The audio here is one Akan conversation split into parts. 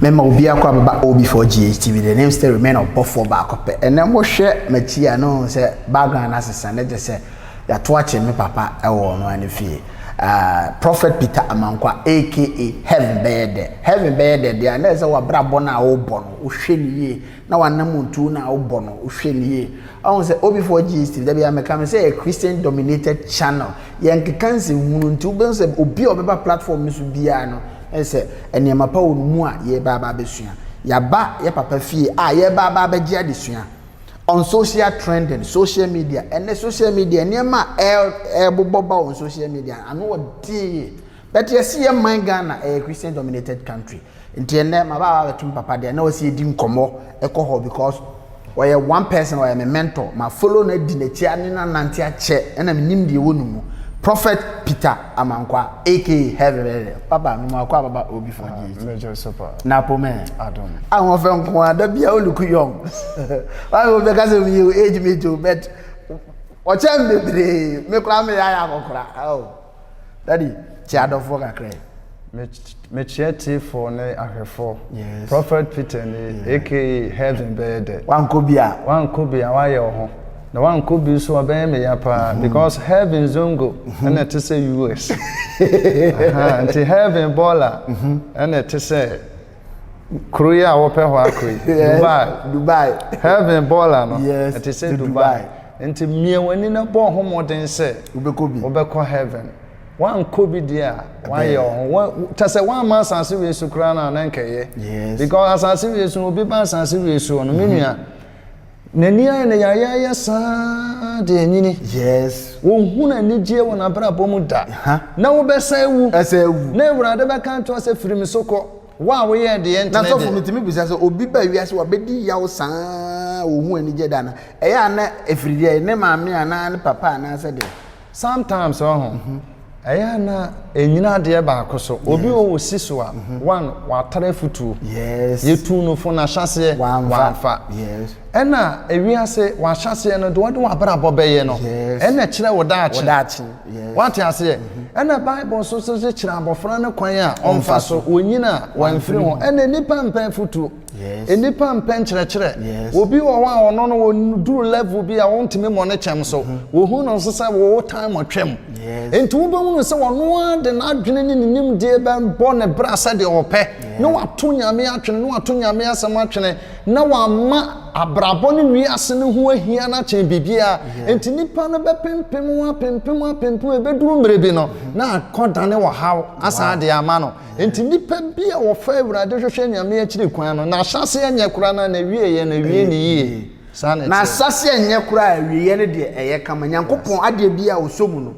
Mɛma obi akɔ abɛba OB4 GHTV the name still remain ɔbɔfoɔ baako pɛ ɛnɛ mohwɛ m'akyi a na ɔhu sɛ background asesa na gye sɛ yɛato akye me papa ɛwɔ ɔno ara ne fie uh, Prophet Peter Amankwa aka Heaven bɛyɛ dɛ Heaven bɛyɛ dɛ deɛ a na ɛsɛ wabrabɔ no a wobɔ no wohwɛ no yie na w'anammɔntuo no a wobɔ no wohwɛ no yie woahu sɛ obifoɔ gyees tv dabi a meka no sɛ yɛ Christian dominated channel yɛnkeka nsɛmhunu nti wobɛhu sɛ obi a ɔbɛba platform no so biara no ɛyɛ sɛ nneɛma pa wɔ no mu a yɛreba aba abɛsua yɛaba yɛ papa fie a yɛreba aba abɛgye adesua on social trending social media ɛnɛ social media nneɛma a ɛrebobɔ ba on social media ano ɔdee but yɛse yɛ man Ghana ɛyɛ Christian dominated country Nti ɛnnɛ maba aba abɛto me papa deɛ na ɔsɛ yɛdi nkɔmmɔ ɛkɔ hɔ because ɔyɛ one person ɔyɛ me mentor ma follow no adi n'akyi ane no anante akyɛ ɛna menim deɛ ɛwɔ ne mu Prophet Peter Amankwa aka Heavenly Papa me mu akɔ ababa obi fɔ deɛ akyi Mɛgye so pa na po mɛ Adom ahoɔfɛ nko a da bia oluku young wame obi ka sɛ meyɛ age mate o but ɔkyɛn bebree me koraa meyɛ ayɛ akɔkora oh. Daddy, kyɛ adɔfoɔ kakra yi. Me me kyerɛ tiefoɔ ne ahwɛfoɔ. Yes. Prophet Peter ni yeah. aka heaven bɛyɛ dɛ. Wankɔ bi a. Wankɔ bi a wayɛ wɔ ho. Na wankɔ bi nso ɔbɛyɛ me ya paa mm-hmm. because heaven zongo mm-hmm. ɛna ɛte sɛ US. Nti heaven bɔɔla mm-hmm. ɛna ɛte sɛ. kuro yi a wɔpɛ hɔ akɔ yi dubai dubai heaven bɔɔla no ɛte sɛ dubai nti mmea w'ani na bɔ ɔho mmɔden sɛ wobɛkɔ bi wobɛkɔ heaven wankɔ bi deɛ a wayɛ ɔho kyɛ sɛ wamma asase wie so koraa no a na nkɛyɛ because asase wie so obi ba asase wie so no me nua N'ani ayɛ no yayaaya saa de anyini. Yes. Wonhunu anigyeɛ wɔ n'abrabɔ mu da. Hah. Na wobɛsan awu. Ɛsan awu. Na Awurade bɛka ato sɛ, Firi me so kɔ, wo a woyɛɛ deɛ ɛntene deɛ. Na sɔfo, metumi bisa sɛ, obi ba wiase hɔ a, ɔbɛdi yaw saa a, ɔhu anigyeɛ da anaa? Ɛyɛ a na ɛfiri deɛn? Ne maame anaa ne papa anaa sɛ deɛn? Sometimes wɔ ho, ɛyɛ a na ɛnyina adeɛ baako so. Obi wɔ wɔ si so a, one, watara afutuo. Yɛtuu no fo no ahyɛaseɛ, wamfa. Ɛna ewiase, w'ahyɛaseɛ no, deɛ wode w'abrabɔ bɛyɛ no, ɛna ɛkyerɛ wo daakye. Woate aseɛ? Ɛna Bible nso so kyerɛ abɔfra no kwan a ɔmfa so, ɔnyini a, wamfiri ho. Ɛna nnipa mpɛ afutuo. Nnipa mpɛ nkyerɛkyerɛ. Obi wɔ hɔ a ɔno no ɔduru level bi a ɔntumi mmɔ ne kyɛm so. Mm-hmm. Wɔhu no nso sɛ wɔwɔ time ɔtwam. Nti wobɛhunu sɛ ɔno ara de n'adwene ne ne nimdeɛ bɛbɔ ne bra sɛdeɛ ɔpɛ na wato nyame atwene na wato nyame asɛm atwene na wama abrabɔ ne wiase no ho ahia no akyɛn biribiara. Nti nnipa no bɛpempem ho apempem apempem ɛbɛduru mmerɛ bi no mm-hmm. na akɔdane ɔhaw asan de ama no. Enti nnipa bi a wɔfa Awurade hwehwɛ Nyame akyiri kwan no, n'ahyɛaseɛ nyɛ koraa na n'awieɛ no awie no yie. Saa na ɛteɛ. N'ahyɛaseɛ nyɛ koraa, awieɛ no deɛ ɛyɛ kama. Nyankopɔn, adeɛ biara a ɔsɔ mu no,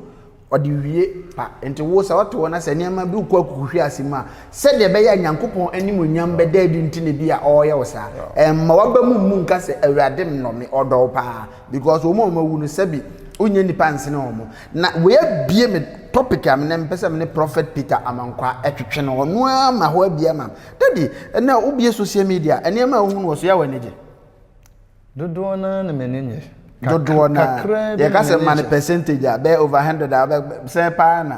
Ɔde wie pa. Enti wo, sɛ ɔte hɔ na sɛ nneɛma bi rekɔ akukuhwease mu a, sɛdeɛ ɛbɛyɛ a Nyankopɔn animuonyam bɛda adi nti na ebia Ɔreyɛ wo saa. Ɛmma w'aba mu mmu nka sɛ, Awurade nnɔ me, Ɔdɔ wo paa. Because wɔn a wɔn awu no sɛbi ɔnyɛ nipa nsene wɔn na wei abie me topic a menɛ mpɛ sɛ mene prophet Peter Amankwaa ɛtwetwe no ɔno ara ma hɔ abie ama daddy ɛnɛ wobie social media nneɛma a wohu no wɔ so yɛ wɔ anigye dodoɔ no ara na m'ani nye dodoɔ no ara yɛka sɛ ma no percentage a bɛyɛ over hundred a bɛsɛn paa na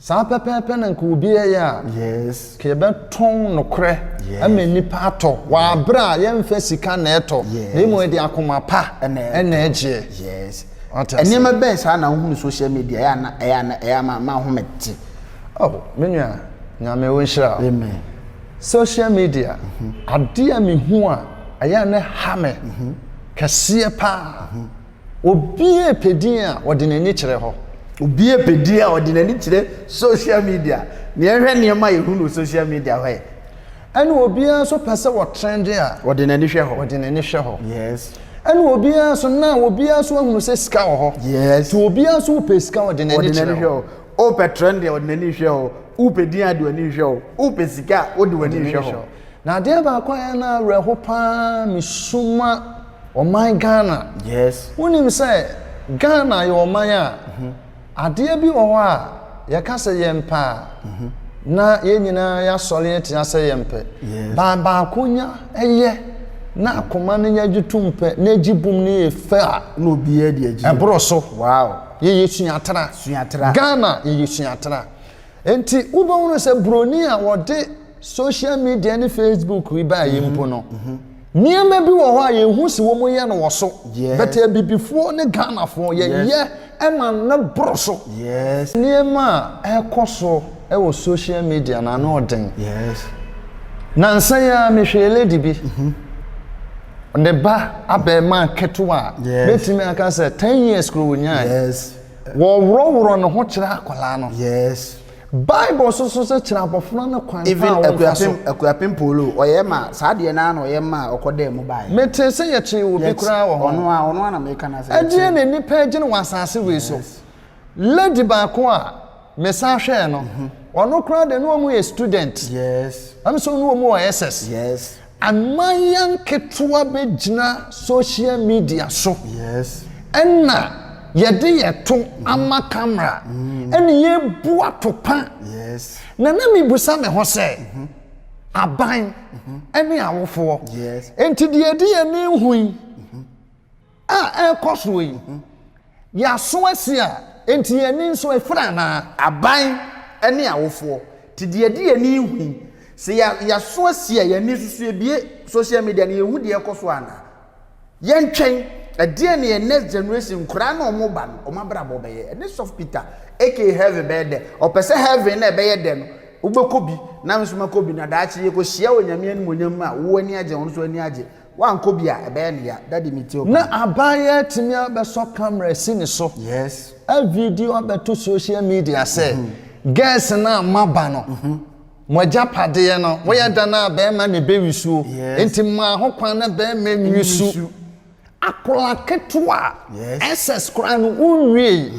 Saa pɛpɛɛpɛ na nka obi yɛyɛ a. Yes. Nka yɛbɛtɔn nokorɛ yes. ama nnipa atɔ yes. wɔ aberɛ a yɛmfa sika na ɛtɔ yes. na mmom ɛde akoma pa ɛna ɛgyeɛ. Yes. Nneɛma bɛn saa na wohunu social media ɛyɛ ana ɛyɛ ana ɛyɛ ama ma ahome te. Oh, me nua nyame wo nhyira. Amen. Social media mm -hmm. adeɛ a mehu a ɛyɛ a ne ha me mm -hmm. kɛseɛ paa mm -hmm. Obiara pɛ din a ɔde n'ani kyerɛ hɔ. Obiara pɛ din a ɔde n'ani kyerɛ social media. Nea ɛhwɛ nneɛma a yɛhu no social media hɔ ɛ. Ɛna obiara nso pɛ sɛ ɔtrɛnde a. Ɔde n'ani hwɛ hɔ. Ɔde n'ani hwɛ hɔ. Yes. Ɛna obiara nso now obiara nso ahunu sɛ sika wɔ hɔ. Yes. Nti obiara nso pɛ sika ɔde n'ani kyerɛ hɔ. Wopɛ trɛnde a ɔde n'ani hwɛ hɔ. Wopɛ din a ɔde w'ani hwɛ hɔ. Wopɛ sika a wode w'ani hwɛ hɔ. Na adeɛ baako a ɛyɛ no awerɛho pa ara mesu ma ɔman Ghana. Yes. Wonim sɛ Ghana yɛ ɔman a mhm. adeɛ bi wɔ hɔ a yɛka sɛ yɛmpɛ a mhm. na yɛn nyinaa yɛasɔre atia sɛ yɛmpɛ. Yes. Ba baako nya ɛyɛ na mhm. akoma no nya gye tom pɛ na egye bom no yɛ fɛ a. Na obiara de agye. Ɛboro so. Wow. Yɛyɛ suatra. Suatra. Ghana yɛyɛ suatra. Nti wobɛhunu sɛ buroni a wɔde Social media ne Facebook yi baa yi mpo no, nneɛma bi wɔ hɔ a yɛn hu si wɔn yɛ no wɔ so. Bɛtɛ abibifoɔ ne Ghanafoɔ yɛyɛ ɛma no boro so. Nneɛma a ɛkɔ so wɔ social media no ano ɔden. Nansa yi ara mehwɛɛ lady bi, ne ba abɛɛmaa ketewa a bɛtumi aka sɛ ten years kura ɔnyaeɛ. Wɔworɔworɔ ne ho kyerɛ akwadaa no. Bible nso so sɛ kyerɛ abɔfra no kwan a wɔmfa so. Even Akuapem Akuapem Polo ɔyɛ ma saa deɛ naa na ɔyɛ ma ɔkɔ daa mu baeɛ. Me tee sɛ yɛ kyee obi koraa wɔ hɔ. Ɔno a ɔno a na me ka no asɛ. Ɛdeɛn na nnipa agyina wɔ asaase wei so. Yes. Lady baako a me san hwɛɛ no ɔno koraa deɛ na ɔmo yɛ student. Yes. Ɛm sɛ ɔno ɔmo wɔ SS. Yes. Amanyɛ nketewa bɛgyina social media so ɛna yɛde yɛ to ama camera ɛna yɛbu atopa na na mebisa me ho sɛ aban ɛne awofoɔ ɛnti deɛ yɛde yɛn ani hu yi a ɛrekɔ soɔ yi ho. Yɛaso asi a enti yɛn ani nso afira anaa? Aban ne awofoɔ, te deɛ ɛde yɛn ani hu yi. Sɛ yɛaso asi a, yɛn ani nso so yɛbue social media na yɛhu deɛ ɛrekɔ soɔ anaa? Yɛntwɛn, ɛdeɛn na yɛn next generation, nkwadaa ne wɔn ba no, wɔn abrabɔ bɛyɛ? Ɛne Sɔfo Peter aka heaven bɛyɛ dɛ. Ɔpɛ sɛ heaven no a ɛbɛyɛ dɛ no, wobɛkɔ bi na me nso mɛkɔ bi na daakye yɛkɔhyia wɔ Nyame animuonyam mu a wo ani agye, ɔno nso ani agye. Wankɔ bi a ɛbɛyɛ no ya. Daddy me tio paa. Na aban yi atumi abɛsɔ camera asi ne so Yes. a video abɛto social media sɛ girls no a moaba no mo agyapadeɛ no moyɛ dɛn a barima na ɛbɛwi suo Yes. nti maa ho kwan na barima nwi Nwi su. su. Akwadaa ketewa a Yes. SS koraa no wonwiei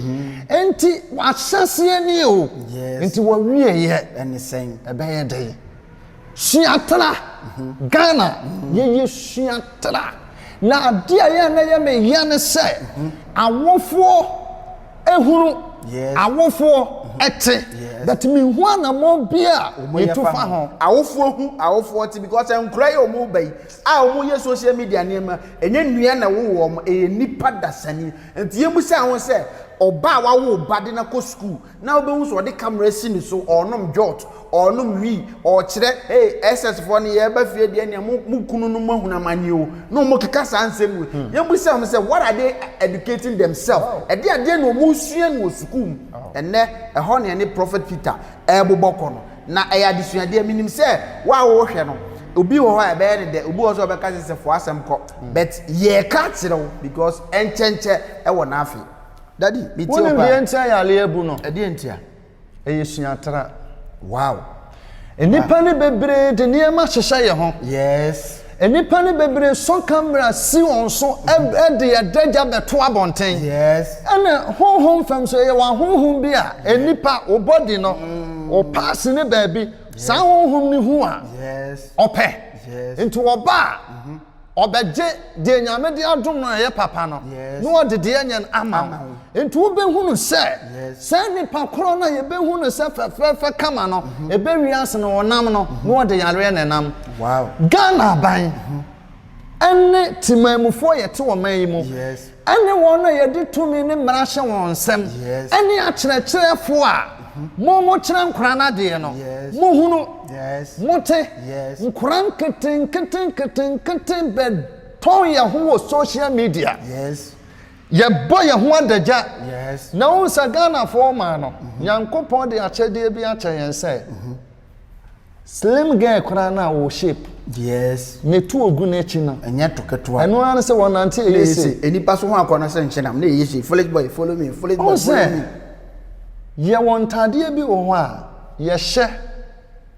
nti w'ahyɛseɛ nie o Yes. nti w'awieɛ Ɛne sɛn? ɛbɛyɛ dɛn? sua tra ghana yɛyɛ sua tra na adeɛ a yɛn na yɛ me yɛ ne sɛ awofoɔ ehunu awofoɔ ɛte but me hu anamɔ bi a yɛtu fa ho awofoɔ hu awofoɔ te because nkura yi wɔn ba yi a wɔn yɛ social media nneɛma ɛnyɛ nnua na wɔwɔ wɔn ɛyɛ nipa dasani nti yɛn mu sɛ ahosɛ ɔba a wawo ba de na kɔ sukuu. na wobɛhu sɛ ɔde camera asi ne so ɔrenom jot ɔrenom wii ɔrekyerɛ hey ss foɔ no yɛreba fie deɛ nea mo mo kunu no mo ahunu amanneɛ o na wɔn keka saa nsɛm wei hmm. yɛn bisa wɔn sɛ what are they educating themselves ɛde adeɛ na wɔn sua no wɔ sukuu mu ɛnɛ ɛhɔ na ɛne prophet peter ɛrebobɔ kɔ no na ɛyɛ adesuadeɛ menim sɛ wo a wɔrehwɛ no obi wɔ hɔ a ɛbɛyɛ ne dɛ obi wɔ sɛ ɔbɛka sɛ sɛ fo asɛm kɔ hmm. but yɛreka kyerɛ wo because ɛnkyɛnkyɛ ɛwɔ n'afe. Daddy, me tie wo Wonim paa. deɛ nti a yareɛ abu no? Ɛdeɛ nti a? Ɛyɛ suatra. Wow. Nnipa no bebree de nneɛma hyehyɛ yɛ ho. Yes. Nnipa no bebree sɔ camera si wɔn so ɛ de adagya bɛto abɔnten. Yes. Ɛna honhom fam nso ɛyɛ w'ahonhom bi a nnipa wo body no wo parts no baabi saa honhom no hu a Yes. ɔpɛ. Yes. Nti wɔba a. Ɔbɛgye deɛ Nyame de adom no a ɛyɛ papa no, na ɔde deɛ ɛnyɛ no ama wo. Nti wobɛhunu sɛ, saa nnipa korɔ no a yɛbɛhu no sɛ fɛfɛɛfɛ kama no, ɛbɛ wiase no ɔnam no, na ɔde yareɛ na ɛnam. Ghana aban ɛne temanmufoɔ a yɛte ɔman yi mu. ɛne wɔn a yɛde tumi ne mmara hyɛ wɔn nsam, ɛne akyerɛkyerɛfo a mo mokyerɛ nkora no adeɛ no, mohunu, mote, nkora nketenkete nketenkete bɛtɔn yɛn ho wɔ social media, yɛbɔ yɛn ho adagya, na wohu sɛ Ghanafoɔ ɔman no, Nyankopɔn de akyɛdeɛ bi akyɛ yɛn sɛ, Slim girl koraa no a ɔwɔ shape. Yes. Na etu ogu n'akyi no. Ɛnyɛ to ketewa. Ɛno ara ne sɛ wɔnante ɛyɛ se. Na ɛyɛ se. Enipa so ho akɔ no sɛ nkyenam na ɛyɛ se. Foolish boy follow me, foolish boy follow me. Ɔn sɛ, yɛwɔ ntaadeɛ bi wɔ hɔ a yɛhyɛ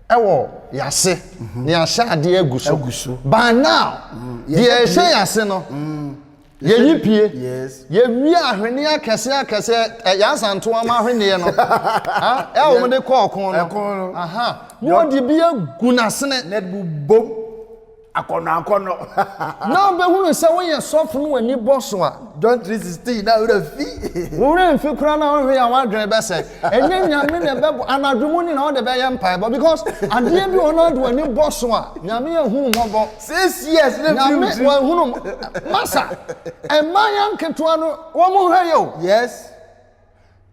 ɛwɔ yase. Na yɛahyɛ adeɛ agu so. Agu so. By now, deɛ ɛhyɛ yase no. Yɛyi pie. Yɛwie ahweneɛ akɛseɛ akɛseɛ, ɛ, Yɛasantoa mo ahweneɛ no, ha, ɛ, wɔn de kɔ ɔko no. Ɛko no. Aha, na wɔde bi agu n'asene. Na yɛde bobom akɔnnɔ akɔnnɔ. Na ɔbɛhunu sɛ woyɛ sɔfo na w'ani bɔ so a. John three sixteen, na wo werɛ fi. Wo werɛ mfi koraa na wohwɛ a w'adwene bɛsɛe. Ɛnyɛ Nyame na ɛbɛboa, anadwo mu nyinaa wode bɛyɛ mpaebɔ because adeɛ bi wɔ hɔ na wode w'ani bɔ so a, Nyame ahu wo mmɔbɔ. Six years na film si. Nyame wɔn hunu mo. Masa ɛmaayaa nketewa no wɔn mo hwɛ yɛ o. Yes.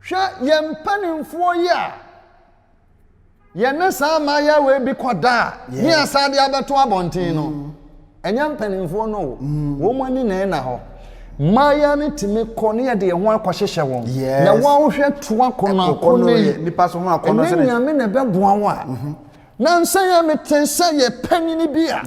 Hwɛ yɛn mpaninfoɔ yi a yɛ ne saa maayaa wei bi kɔ da a ne yɛ san de abɛto abɔnten no ɛnyɛ mpaninfoɔ no o wɔn mo ani na ɛna hɔ. Maayaa no tumi kɔ ne yɛ de yɛ ho akɔ hyehyɛ wɔn na wɔn hwɛ to akɔnɔ akɔnɔ yi ɛnyɛ Nyame na ɛbɛboa wo a Nansa yi ara metee sɛ yɛ panyin bi a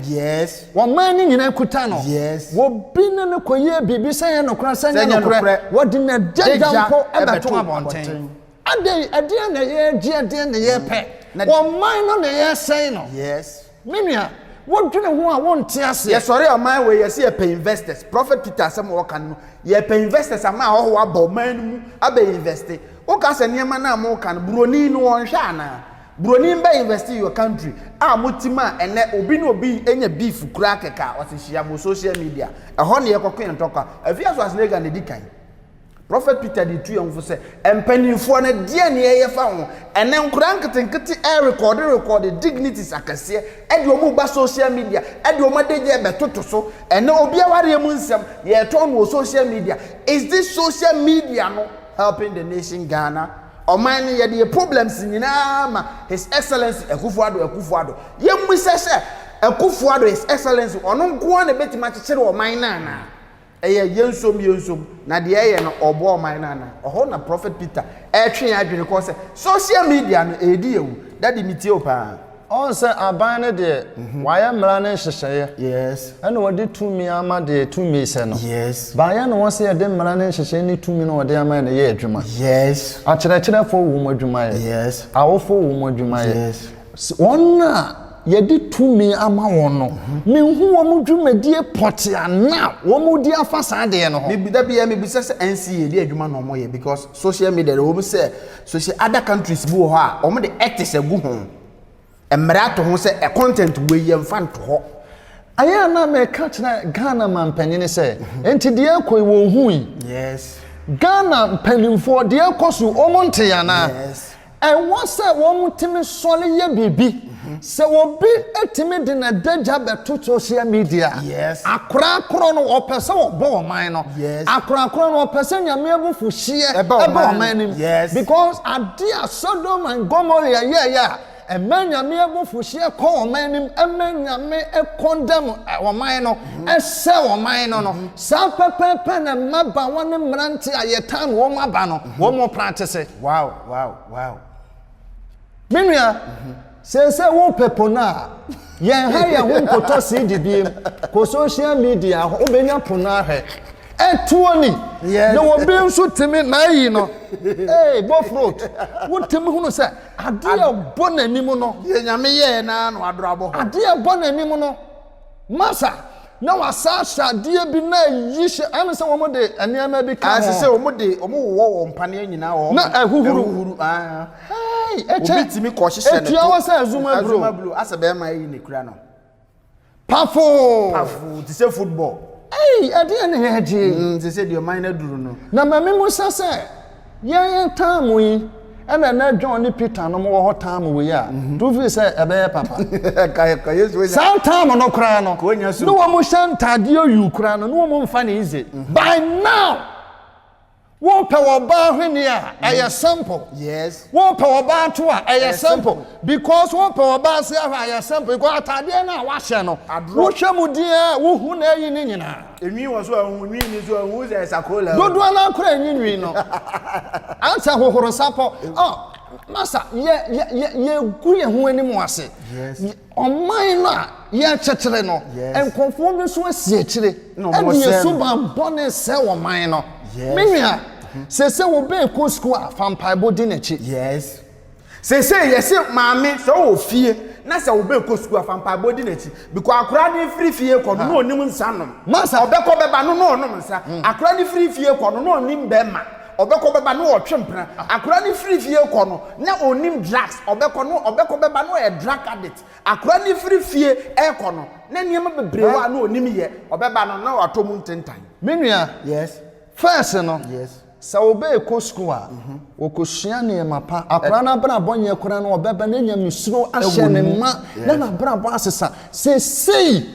ɔman no nyinaa kuta no, obi ne no kɔyɛɛ biribi sɛ ɛyɛ nokorɛ sɛ ɛnyɛ nokorɛ, wɔde n'adagya mpo bɛtoo abɔnten. Adɛn, ɛdeɛn na yɛregye, ɛdeɛn na yɛrepɛ? Ɔman no na yɛresɛe no. Me nua, wodwene ho a wonte aseɛ. Yɛsɔre ɔman wei, yɛse yɛpɛ investors. Prophet Peter asɛm a ɔka no, yɛpɛ investors ama ahɔhoɔ aba ɔman no mu abɛ investe. Woka sɛ nneɛma no a moka no, buroni no ɔnhwɛ anaa? Broni bɛ invest in your country a moti ma ɛnɛ obi ne obi nya beef kura kɛka ɔse hyia mo social media ɛhɔ ne yɛkɔko yɛn tɔkwa ɛfi aso asnega ne di kan Prophet Peter de tu yɛn fo sɛ mpanimfoɔ no deɛ ne yɛyɛ fa ho ɛnɛ nkora nketenkete ɛrekɔde rekɔde dignities akɛseɛ ɛde ɔmo ba social media ɛde ɔmo adagya bɛtoto so ɛnɛ obi awareɛ mu nsɛm yɛtɔn no wɔ social media is this social media no helping the nation Ghana Ɔman no yɛde yɛ problems nyinaa ma his excellency Akufo Addo Akufo Addo yɛmmisa sɛ Akufo Addo his excellency ɔno nkoaa na ɛbɛtumi akyekyere ɔman no anaa ɛyɛ yɛnsom yɛnsom na deɛ ɛyɛ no ɔboa ɔman no anaa ɛhɔ na prophet Peter ɛretwe yɛn adwene kɔ sɛ social media no ɛredi yɛwu daddy metie wo paa. Ɔn sɛ aban no deɛ wayɛ mmara ne nhyehyɛeɛ Yes. ɛna ɔde tumi ama deɛ tumi sɛ no Yes. baayɛ na ɔn sɛ yɛde mmara ne nhyehyɛeɛ ne tumi no ɔde ama yɛ no yɛ adwuma. Yes. Akyerɛkyerɛfoɔ wɔ mu adwumayɛ. Yes. Awofoɔ wɔ mu adwumayɛ. Yes. S, Wɔn a yɛde tumi ama wɔn no, menhu wɔn dwumadie pɔtee a na wɔredi afa saa adeɛ no ho. Me, da biara mebisa sɛ NCA deɛ adwuma na wɔyɛ because social media deɛ ɛwɔ mu sɛ Sɛsɛ other countries bi wɔ hɔ a wɔn de ethics agu ho, mmara ato ho sɛ ɛ content wei yɛn fa nto hɔ. Ayɛ a na mɛka kyerɛ Ghana manpanyini sɛ nti deɛ ɛkɔ yi wɔn hu yi? Yes. Ghana mpanyinfoɔ deɛ ɛkɔ so yi wɔn nte anaa? Yes. Ɛwɔ sɛ wɔn tumi sɔre yɛ biribi. Sɛ obi tumi de n'adagya bɛto social media a, akorakorɔ no ɔpɛ sɛ ɔbɔ ɔman no, akorakorɔ no ɔpɛ sɛ Nyame abufuhyeɛ ba ɔman no mu because adeɛ a Sodom and Gomorrah yɛɛyɛ a ɛma Nyame abufuhyeɛ kɔ ɔman no mu, ɛma Nyame condemn ɔman no, ɛsɛ ɔman no no, saa pɛpɛɛpɛ na mmabaawa ne mmeranteɛ a yɛtan wɔn aba no, wɔn practice. Me nua, seesei wopɛ pono a, yɛn ha yɛ ho nkotɔ CD biem. Kɔ social media hɔ, wobɛnya pono ahwɛ. Ɛtoɔ ni, na obi nso tumi, n'ayi no, ee, bofrot, wotumi hunu sɛ adeɛ a ɛbɔ n'anim no. Deɛ Nyame yɛɛ no ara na wadoro abɔ hɔ. Adeɛ a ɛbɔ n'anim no. Masa, na wɔasan ahyɛ adeɛ bi na ayi hyɛ, ɛne sɛ wɔde nneɛma bi ka ho. Ɛsɛ sɛ wɔde, wɔwowɔ wɔn mpaneɛ nyinaa wɔ hɔ ma ɛhuhuru. Ɛhuhuru, ahaa. Hɛi, ɛkyɛ. Obi tumi kɔ hyehyɛ ne to. Ɛtua hɔ sɛ azuma bro. Azuma bro, asɛ bɛrima ayi ne kura no. Pafoo. Pafoo, te sɛ football. Ei, ɛdeɛ ne yɛgye. Mm, te sɛ deɛ ɔman no aduru no. Na ma me musa sɛ. Yɛn yɛn taa mo yi ɛna ɛnɛ John ne Peter nom wɔ hɔ taa mo wei a mhm. tu firi sɛ ɛbɛyɛ papa. Saa taa mo no koraa no ne wɔn hyɛ ntaadeɛ oyu koraa no ne wɔn mfa ne ize. Mhm. By now wopɛ wɔ baa hwene a mhm. ɛyɛ simple. Wopɛ wɔ baa to a ɛyɛ simple because wopɛ wɔ baa se ahwɛ a ɛyɛ simple because ataadeɛ no a wahyɛ no wohwɛ mu deɛ wohu na ɛyi ne nyinaa. Nwi wɔ so a ɔhu, nwi ni so a ɔhu sɛ ɛsa ko la. Dodoɔ no ara koraa nyi nwi no. Ansa hohoro sa pɔ. Oh, Masa, yɛ yɛ yɛ yɛgu yɛn ho anim wɔ ase. Yes. Ɔman no a yɛrekyekyere no, Yes. nkurɔfoɔ bi nso asi akyire. Na wɔn Ɛde sɛ yɛ no. suban bɔne sɛ ɔman no. Yes. Me nua, sɛ sɛ obi rekɔ sukuu a, fa mpaebɔ di n'akyi. Yes. Seesei yɛse maame sɛ ɔwɔ fie na sɛ ɔbɛkɔ sukuu a fa mpaebɔ di n'akyi because akora no firi fie kɔ no na ɔnim nsa nom. Ɔbɛkɔ bɛba no na ɔnom nsa. Akora no firi fie kɔ no na ɔnim bɛɛma. Ɔbɛkɔ bɛba na ɔtwe mpena. Akora no firi fie kɔ no na ɔnim drugs. Ɔbɛkɔ no ɔbɛkɔ bɛba na ɔyɛ drug addict. Akora no firi fie ɛrekɔ no na nneɛma bebree wɔ a na ɔnim yɛ. Ɔbɛba no na watɔ mu ntentan. Me nua. Yes. First no. Yes. Sɛ wɔrekɔ sukuu a, wɔkɔsua nneɛma pa. Akwadaa no abrabɔ nyɛ koraa no, ɔbɛba na nyamesuro ahyɛ ne ma na n'abrabɔ asesa. Seesei,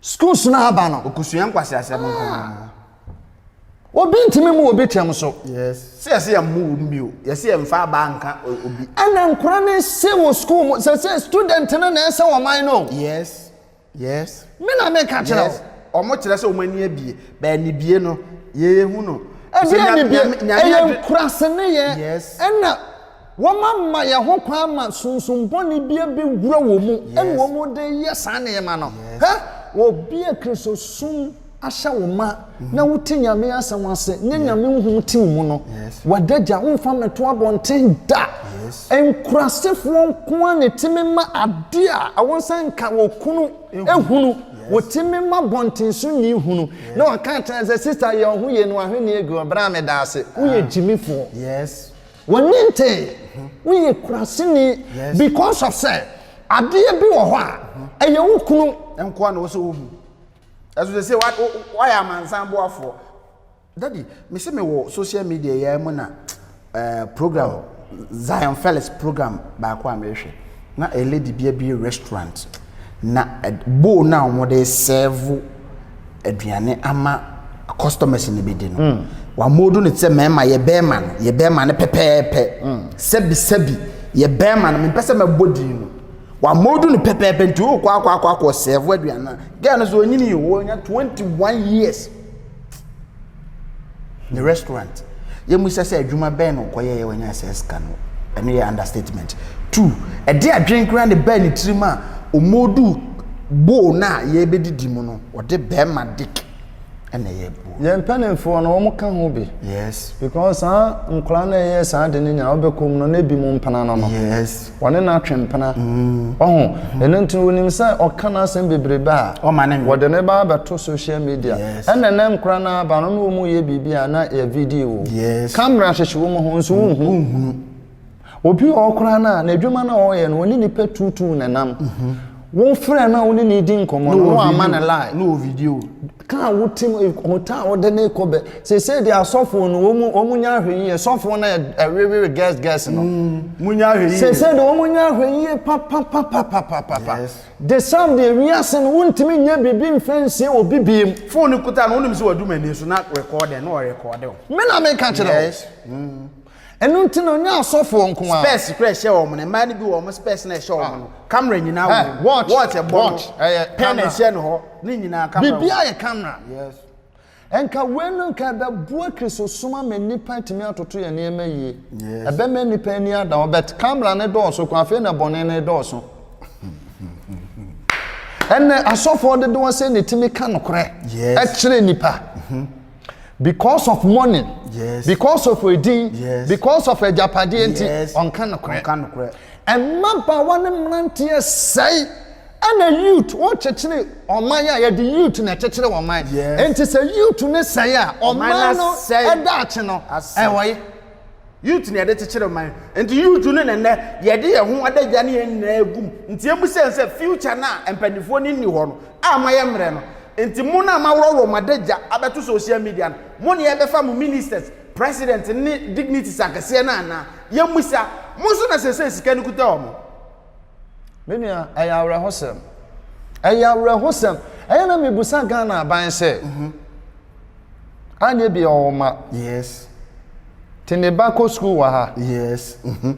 schools no aba no. Ɔkɔsua nkwaseasɛm nko ara. Ah! Obi ntumi mu obi kyɛm so. Yes. Sɛ yɛsɛ yɛn mu wom bio, yɛsɛ yɛn mfa abaa nka obi. Ɛna nkora ne se wɔ sukuu mu, sɛ sɛ student no na ɛsɛ wɔn man no. Yes. Yes. Me na me ka kyerɛ wo. Yes. Ɔmo kyerɛ sɛ ɔmo ani abie. Bɛɛ nibie no, yɛ yɛ hu no. Ɛdeɛ nibie? Ɛyɛ nkuraseneyɛ. Yes. Ɛna wɔn ama yɛ ho kwan ama sunsum bɔne bi abɛ wura wɔn mu. Yes. Ɛna wɔn de yɛ saa nneɛma no. Yes. Hɛ! Wɔbie Kristosom. ahyɛ wo ma na wote nyame asɛm ase ne nyame nhom te wo mu no wadagya womfa mmɛto abɔnten da nkurasefoɔ nko a na ɛtumi ma adeɛ a ɛwɔ sɛ nka wɔ kunu ehunu wɔtumi ma bɔnten so ni hunu na waka kyerɛ sɛ sista yɛ ɔho yie no ahwenneɛ agu ɔbrɛ a meda ase woyɛ gyimifoɔ wɔnni ntee woyɛ kuraseni because of sɛ adeɛ bi wɔ hɔ a ɛyɛ wo kunu nkoa na wɔ sɛ wohu ɛso sɛ sɛ woayɛ amansan boafoɔ dadi mese me wɔ social media yɛ mu na eh, program oh. zion felix program baako a mehwɛ na a lady bi abie restaurant na eh, bowl no a wɔde serve aduane ama customers no bɛdi no mm. wamodo no te sɛ mmarima yɛ bɛrima no yɛ bɛrima no pɛpɛɛpɛ mm. sɛbisɛbi yɛ bɛrima no mempɛ sɛ mɛbɔ din no Wama odu no pɛpɛɛpɛ nti wokɔ akɔ akɔ akɔ sɛvo aduane no a girl no so ɔnyini yɛ wɔnya 21 years ne restaurant yɛmmisa sɛ adwuma bɛn na ɔkɔyɛ yɛ wɔnya sɛ sika no ɛno yɛ understatement two ɛde adwene koraa ne baa ne tirim a ɔmɔdu bowl no a yɛbɛdidi mu no ɔde bɛrima dick ɛna ɛyɛ boɔ. Yɛn mpanimfoɔ no wɔn ka ho bi. Yes. Because saa nkwadaa na ɛyɛ saa de ne nyinaa wɔbɛkɔ mu no na ebi mu mpena no no. Yes. Wɔne na atwe mpena. Mm. Ɔho ɛno nti wɔnim sɛ ɔka no asɛm bebrebe a. Ɔma ne. Wɔde ne ba abɛto social media. Yes. Ɛna ɛnɛ nkwadaa no aba no na wɔn yɛ biribi a na yɛ video. Yes. Camera hyehyɛ wɔn ho nso wɔn ho. Wɔn ho. obi wɔ hɔ koraa no a n'adwuma no a ɔreyɛ no ɔne nipa tuutuu na nam mhm. wofrɛ no a wone ne di nkɔmmɔ no no ama no lie ka a wotim hota a wode ne kɔ bɛ seesei de asɔfoɔ no wɔn nya ahwɛ yie sɔfoɔ no ɛwewere gɛs gɛs no mm, seesei de wɔn nya ahwɛ yie papapapapapapa de sam deɛ wiase no wontumi nyɛ biribi mfɛ nsie wɔ bibie mu fone kuta no wonim sɛ wadum ani so na rekɔɔdɛ na ɔrekɔɔdɛ me na meka kyerɛ wo Ɛno nti na ɔnyɛ asɔfoɔ nko ara. Spɛs kura ɛhyɛ wɔn no. Mmaa no bi wɔ wɔn spɛs no a ɛhyɛ wɔn no. Kamera nyinaa wɔ mu. Watch ɛbɔ no. Pɛn a ɛhyɛ ne hɔ. Ne nyinaa kamera wɔ mu. Biribiara yɛ kamera. Yes. Nka wei no nka ɛbɛboa Kristosom ama nnipa atumi atoto yɛn nneɛma yie. Yes. Ɛbɛma nnipa ani ada hɔ. But kamera no dɔɔso kwan afei na bɔne no redɔɔso. Ɛnna asɔfoɔ dodoɔ sɛ na ɛtumi ka nokorɛ kyerɛ nnipa. because of money yes. because of edin yes. because of agyapadeɛ nti yes. ɔnka nokorɛ mmabaawa ne mmeranteɛ sɛe ɛna youth wɔkyekyere ɔman a yɛde youth na ɛkyekyere ɔman nti sɛ youth ne sɛe a ɔman no ɛda akye no ɛwɔ ye Youth na yɛde kyekyere man. Nti youth no na nnɛ yɛde yɛn ho adagya ne yɛn nyinaa gum. Nti emu sɛn sɛ future no a mpanimfoɔ no nni hɔ no a moayɛ mmerɛ no. Nti mo no a moaworɔworɔ mo adagya abɛto social media no, mo na yɛbɛfa mo ministers, president ne dignities akɛseɛ no anaa? Yɛmmisa. Mo nso na seesei sika no kuta wɔn. Me nua, ɛyɛ awerɛhosɛm. Ɛyɛ awerɛhosɛm. Ɛyɛ na mebusa Ghana aban sɛ, mhm. anyɛ bi ɔwɔ ma. Yes. Te ne ba kɔ sukuu wɔ ha. Yes. Mhm.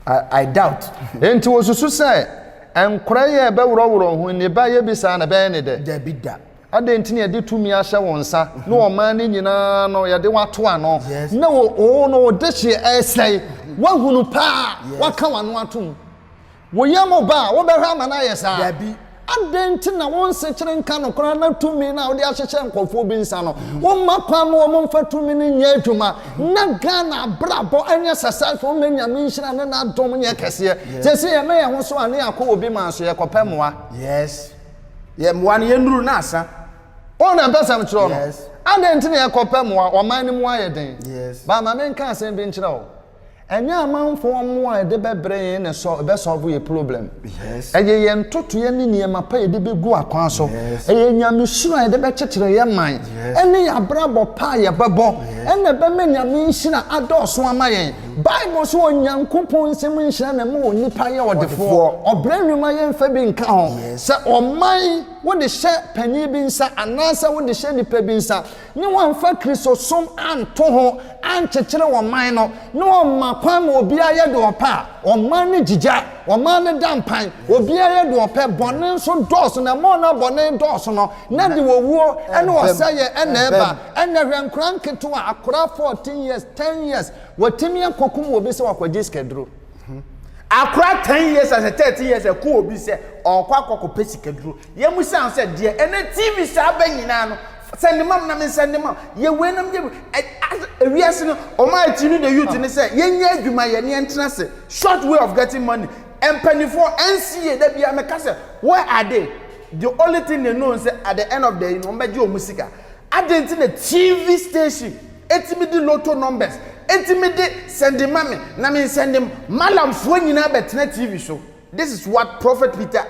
I, I doubt. Enti wɔsusu sɛ nkora yi a ɛbɛworɔworɔ ho nnipa yɛ bi saa na ɛbɛyɛ ne dɛ. Dabi da. Adɛn nti na yɛde tumi ahyɛ wo nsa, ne ɔman no nyinaa no, yɛde wo ato ano, na wo, wo no wo dehyeɛ resɛe? Woahunu paa, woaka w'ano atom. Wo yam ba a, wobɛhwɛ ama no ayɛ saa? Dabi. Adɛn nti na wonsekyere nka no koraa na tumi no a wode ahyehyɛ nkurɔfoɔ bi nsa no, womma kwan ma wɔmfa tumi no nyɛ adwuma, na Ghana abrabɔ nyɛ successful, na Nyame nhyira ne n'adom nyɛ kɛseɛ? Seesei yɛmɛ yɛn ho so a, ne yɛakɔ wɔ obi man so, yɛkɔpɛ mmoa. Yes. Yɛ mmoa no, yɛnnuru na asa. Wɔn na mpɛsɛm kyerɛ no. Adɛn nti na yɛkɔpɛ mmoa? Ɔman no mu ayɛ den. Ba ma menka asɛm bi nkyerɛ wo. Ɛnyɛ amanfoɔ mmoa a yɛde bɛbrɛ yɛn na ɛbɛsɔlvo yɛn problem. Ɛyɛ yɛn ntotoeɛ ne nneɛma pa a yɛde bɛgu akwan so. Ɛyɛ Nyame suro a yɛde bɛkyekyere yɛn man ne yɛn abrabɔ pa a yɛbɛbɔ na ɛbɛma Nyame nhyira adɔɔso ama yɛn. Bible se Onyankopɔn nsem nhyira na ɛma onipa yɛ ɔdefoɔ. Ɔbrɛ nnwuma yɛmfa bi nka ho. Sɛ ɔman wode hyɛ panin bi nsa anaasɛ wode hyɛ nipa bi nsa ne wamfa Kristosom anto ho ankyekyere ɔman no na ɔma kwan ma obiara yɛ deɛ ɔpɛ a, ɔman no gyigya, ɔman no da mpan, obiara yɛ deɛ ɔpɛ, bɔne nso dɔɔso na ɛma ɔno a bɔne dɔɔso no na ɛde owuo ne ɔsɛeɛ na ɛba. Ɛnɛ hwɛ nkora nketewa akora 14 years 10 years watumi akokum obi sɛ wakɔgye sikaduro. Akora 10 years asɛ 13 years ɛku obi sɛ ɔɔkɔ akɔ kɔpɛ sikaduro yɛ mu saa sɛ deɛ ɛnɛ TV saa abɛ nyinaa no sɛ ne mam na me nsa ne mam yɛ wei na me yɛ as ewiase no ɔma akyi no the youth ne sɛ yɛ nyɛ adwuma yɛ ne yɛ ntena se short way of getting money mpanifoɔ ɛnsi yie da biara me ka sɛ where are they the only thing they know sɛ at the end of the day no wɔn bɛgye wɔn sika. Adɛn nti na TV station tumi de lotto numbers tumi de sɛnde ma me na me nsɛnde Mallam foɔ nyinaa bɛtena TV so? This is what Prophet Peter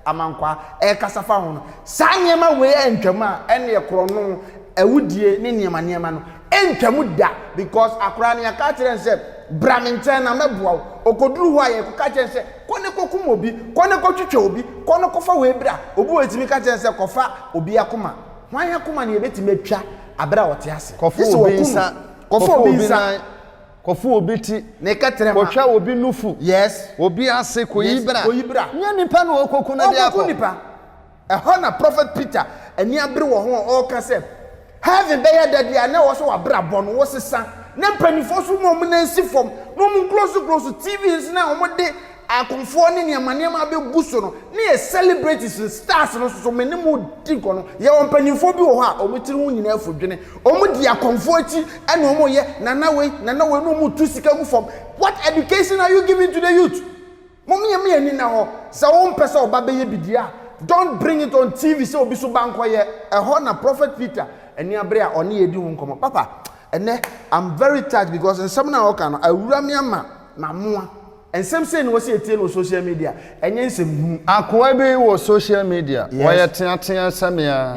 Amankwaa ɛrekasa fa ho no. Saa nneɛma wei antwam a ɛnneɛ korɔno, awudie ne nneɛma nneɛma no ɛntwam da because akoraa no yɛaka akyerɛ no sɛ bra me nkyɛn na mɛboa wo. Ɔkɔduru hɔ a yɛkɔka kyerɛ no sɛ kɔ ne kɔkum obi, kɔ ne kɔtwitwa obi, kɔ ne kɔfa wei bra. Obi wɔ hɔ yɛtumi ka kyerɛ no sɛ kɔfa obi akoma. Hwan akoma na yɛbɛtumi atwa berɛ a ɔte ase? Kɔfa obi nsa. Kɔfa obi nan. Kɔfa obi ti. Ne kɛtrɛma. Kɔtwa obi nufu. Yes. Obi ase. Kɔyi bra. Kɔyi bra. Nyɛ nipa na ɔrekɔku no de akɔ. Ɔrekɔku nipa. Ɛhɔ na Prophet Peter ani abere wɔ ho a ɔreka sɛ, Heaven bɛyɛ dɛ deɛ a na ɛwɔ sɛ w'abrabɔ no wosesa, na mpanimfoɔ nso ma wɔn nan si fam, na wɔn close close TV nso na wɔde Akonfoɔ ne nneɛma nneɛma abɛbu so no ne yɛ celebrities no stars no soso me ne mo di nkɔnɔ yɛwɔ mpanimfoɔ bi wɔ hɔ a wɔn tiri ho nyinaa afu dwene wɔn di akɔnfoɔ akyi ɛna wɔn yɛ nana wei nana wei na wɔn tu sika gu fam what education are you giving to the youth mo meyɛ meyɛ ni na hɔ sɛ wɔn mpɛ sɛ ɔba bɛyɛ bidie a don't bring it on TV sɛ obi so ba nkɔ yɛ ɛhɔ na prophet Peter ɛni abere a ɔne yɛ di ho nkɔmɔ papa ɛnɛ I'm very touched because nsɛm na ɔka no awura me ama ma moa. Nsɛm sei na wɔsi etie no wɔ social media, ɛnyɛ nsɛm hunu. Akoa bi wɔ social media, ɔyɛ teatea sɛ me ara,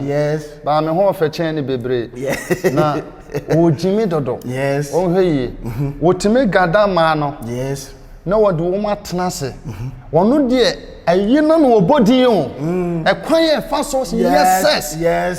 but me ho ɔfɛ kyɛn ne bebree, na ɔregye me dodo. Wonhwɛ yie, wɔtumi gather mmaa no na wɔde wɔn atena ase, ɔno deɛ ayi no na ɔbɔ din o, ɛkwan a ɛfa so yɛ sex,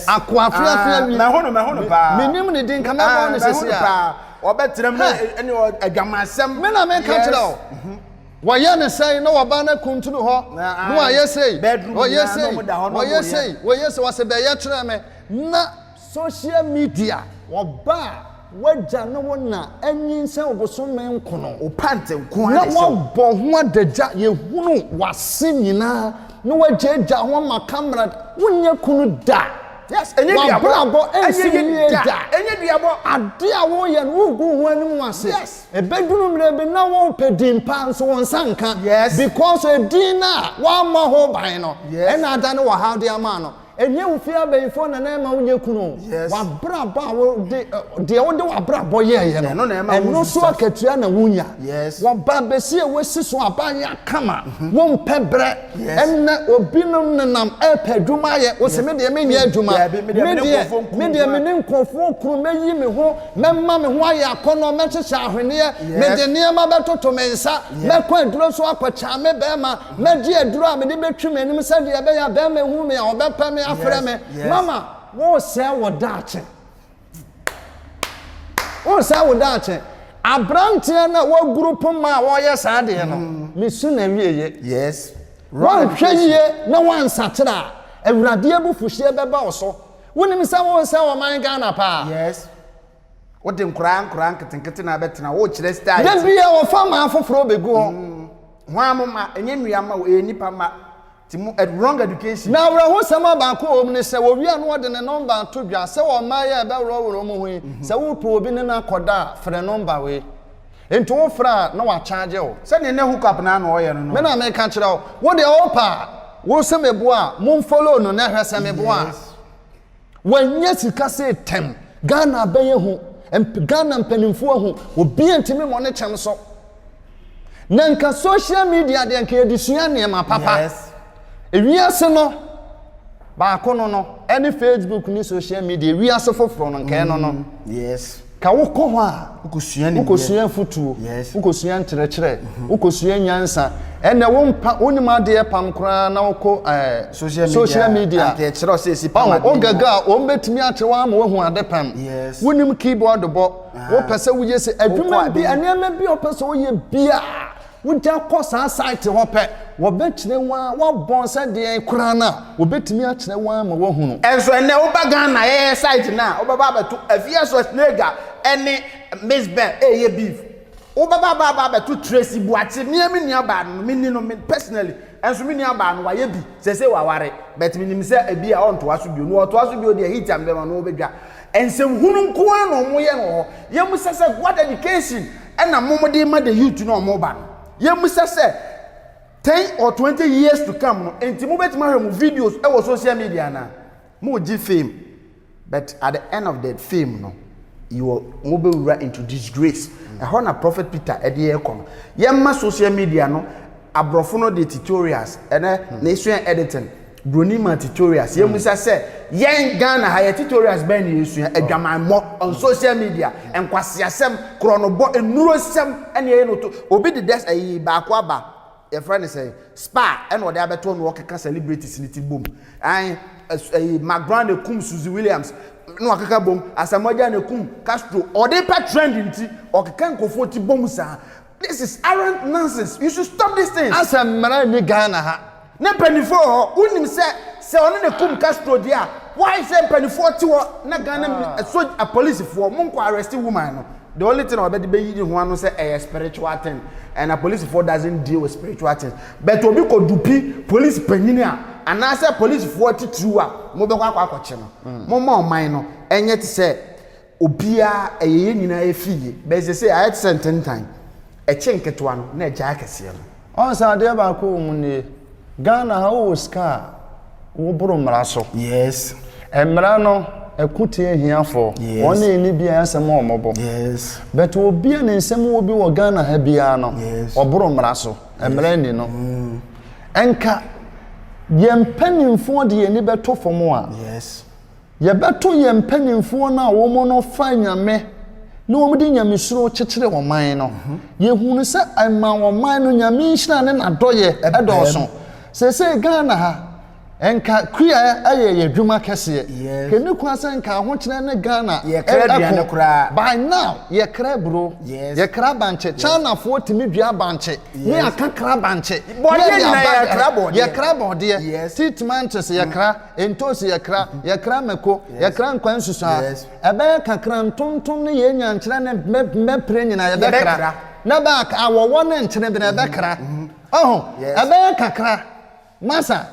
akoa feafea bi, menim ne din, nka mɛbɔ no seesei a. Wɔbɛtenam na ɛne adwamansɛm. Me na meka kyerɛ wo. Mhm. Wɔyɛ ne sɛn na wɔba no kuntunu hɔ na ah, wɔayɛ sei wɔyɛ sei wɔyɛ sei wɔyɛ sei wɔsɛ bɛyɛ kyerɛ me na social media wɔba a wagya ne wo na anyinsɛn ɔbosome nkono ɔpante nko na wɔbɔ ho adagya yɛhunu wase nyinaa na wagyaagya ho ama kamera wonyɛ kunu da Yes, ɛnyɛ duabɔ. W'abrabɔ nsi yie da. Ɛnyɛ duabɔ. Ade a woyɛ no, wogu ho anim wɔ ase. Yes. Ɛbɛduru mmerɛ bi na worepɛ din pa nso wo nsa nka. Yes. Because edin no a woammɔ ho ban no, ɛna adane w'ɔhaw de ama ano. Ɛnyɛ wo fie abayifoɔ na na ɛma wonyɛ kunu o. Yes. W'abrabɔ a wode, deɛ wode w'abrabɔ yɛɛyɛ no, Ɛno na ɛma wo ɛno nso akatua na wonya. Yes. Wɔba abɛsi a woasi so a, aba ayɛ akama. Wompɛ berɛ. Ɛnnɛ obinom nenam repɛ adwuma ayɛ, wo se me deɛ menyɛ adwuma, me deɛ, me deɛ me ne nkurɔfoɔ kunu, mɛyi me ho, mɛma me ho ayɛ akɔnnɔ, mɛhyehyɛ ahweneɛ, mede nneɛma bɛtoto me nsa, mɛkɔ aduro so akɔkya me barima, mɛgye aduro a mede bɛtwi m'anim sɛdeɛ ɛbɛyɛ a barima ahunu me a ɔbɛpɛ me afrɛ me, mama, woresɛe wo daakye. Wonsɛe wo daakye. Aberanteɛ no a waguru poma a ɔreyɛ saa adeɛ no, mesu n'awieeɛ. Yes. Woanhwɛ yie na woansakyera a, Awurade abufuhyeɛ bɛba wo so. Wonim sɛ wonsɛe ɔman Ghana paa? Yes. Wode nkoraa nkoraa nketenkete na abɛtena hɔ, wokyerɛ style Da ti. biara wɔfa mmaa foforɔ bɛgu hɔ. Hwan mo mma? Ɛnyɛ nnua mma o, ɛyɛ nnipa mma. Na awerɛhosɛm a baako wɔ mu ne sɛ, wɔwie a na wɔde ne nɔmba ato dwa. Sɛ wɔn mmaeɛ a ɛbɛworɔworɔ wɔn ho yi, sɛ worepɛ obi ne no akɔda a, frɛ nɔmba wei. Enti wofrɛ a, na wɔakyaagye wo. Sɛdeɛ na hookup no ara na wɔyɛ no no. Me na meka kyerɛ wo. Wodeɛ wopɛ a, wo se meboa a, monfollow no na hwɛ sɛ meboa a. Wanya sika sei tɛm. Ghana abɛyɛ hu. Ghana mpanimfoɔ ahu. Obiara ntumi mmɔ ne kyɛm so. Na nka social media deɛ nka yɛde sua nneɛma papa. Yes. Ewiase no baako no no ɛne Facebook ne social media ewiase foforɔ no nka ɛno no. Mm, yes. Ka wo kɔ hɔ a, wokosua nimdeɛ. Wokosua afutuo. Yes. Wokosua nkyerɛkyerɛ. Mhm. Wokosua nyansa. Ɛnɛ wo mpa, wo nim adeɛ pam koraa na wokɔ ɛɛ. Eh, social media. Social media. Anka ɛkyerɛ sɛ esi pam adeɛ. Ɔn, ogɛgɛ a, wɔn bɛtumi akyerɛ wɔn ama wɔahu ade pam. Yes. Wonim keyboard bɔ. Ah. Wopɛ sɛ woyɛ sɛ adwuma bi, nneɛma bi a wɔpɛ sɛ wɔyɛ bi a. Wogya kɔ saa site hɔ pɛ, wɔbɛkyerɛ wo ara, woabɔn sɛ deɛn koraa no a, wɔbɛtumi akyerɛ wo ara ma woahunu. Nso ɛnnɛ woba Ghana yɛyɛ site no a, wobɛba abɛto Afia Schwarzenegger ne Miss Bell reyɛ beef. Wobɛba aba aba abɛto Tracy Boakye, me ara me nuabaa no, menni no personally, nso me nuabaa no wayɛ bi, seesei waware, but menim sɛ ebi a ɔntoa so bio, na ɔtoa so bio deɛ hit a mede bɛma no, ɔbɛdwa. Nsɛmhunu nko ara na wɔyɛ no wɔ hɔ. Yɛn mu sɛ sɛ, what education? ɛna mom de ma the youth na ɔmo ba no yɛmmisa sɛ ten or twenty years to come no nti mobɛtumi ahwɛ mo videos ɛwɔ social media anaa mogye fame but at the end of the fame no yɛwɔ mobɛwura into disgrace ɛhɔ na prophet peter ɛde ɛkɔ no yɛmma social media no aborɔfo no de tutorials ɛnɛ na esua editing Broni man tutorials. Yɛn musa sɛ, yɛn Ghana ha yɛ tutorials bɛn na yɛsua? Adwamammɔ on social media, nkwaseasɛm, korɔnobɔ, nnurosɛm ɛna yɛyɛ no to. Obi de dɛs ɛyi baako aba, yɛfrɛ no sɛ spa ɛna ɔde abɛto na ɔkeka celebrities no ti bom. Ae ɛs ɛyi Mark Brown na ɛkum Suzy Williams na wakeka bom, Asamoah Gyan na ɛkum Castro. Ɔde pɛ trend nti ɔkeka nkurɔfoɔ ti bom saa. This arent nonsense you should stop this things. Asɛ mmara nni Ghana ha. Ne mpanyinfoɔ wɔ hɔ wonim sɛ sɛ ɔne ne kum Castro deɛ a why sɛ mpanyinfoɔ te hɔ na Ghana soj apolisifoɔ mo nkɔ arrest woman no the only thing a ɔbɛde bɛyi ne ho ano sɛ ɛyɛ spiritual thing and apolisifoɔ doesn't deal with spiritual things but obi kɔ dupi police panyini a anaasɛ apolisifoɔ titiriw a mo bɛkɔ akɔ akɔkye no mo ma ɔman no ɛnyɛ te sɛ Obiara, ɛyɛ yɛn nyinaa yɛ fii yɛ, bɛyɛ sɛ sei ayɛ te sɛ ntentan, ɛkye nketewa no na ɛgyae akɛseɛ no. Ɔn sɛ adeɛ baako wɔ mu nie, Ghana ha wo wɔ sika a, wo boro mmara so. Yes. Mmara no, ɛko tia ahiafoɔ, yes. Wɔn a ɛnni biara asɛm a wɔn bɔ. Yes. But obi a ne nsɛm wɔ bi wɔ Ghana ha biara no, yes. Ɔboro mmara so, mmara nni no. Mm. Ɛnka, yɛn mpanimfoɔ de yɛn ani bɛto fam a. Yes. Yɛbɛto yɛn mpanimfoɔ no a wɔn no fa nyame na wɔn de nyamesuro kyekyere wɔn man no. Mhm. Yɛhunu sɛ ɛma wɔn man no nyame nhyira ne n'adɔyɛ ɛdɔɔso. Sese Ghana ha nka kuya ɛyɛ yɛ adwuma kɛseɛ. Kɛni kwan sɛ nka ahokyerɛ ne Ghana ɛko. By now yɛkra buro, yɛkra abankye, Chinafoɔ tumi dua abankye, ne akakra abankye, yɛkra bɔdeɛ, tea tomantos yɛkra. Ntosi yɛkra, yɛkra mako, yɛkra nkwa nsusuaa, ɛbɛyɛ kakra ntontom ne yɛn nyankyerɛ ne mmɛpere nyinaa yɛbɛkra, ne back awɔwɔ ne nkyene bene ɛbɛkra. Ɔho? Ɛbɛyɛ kakra. Masa,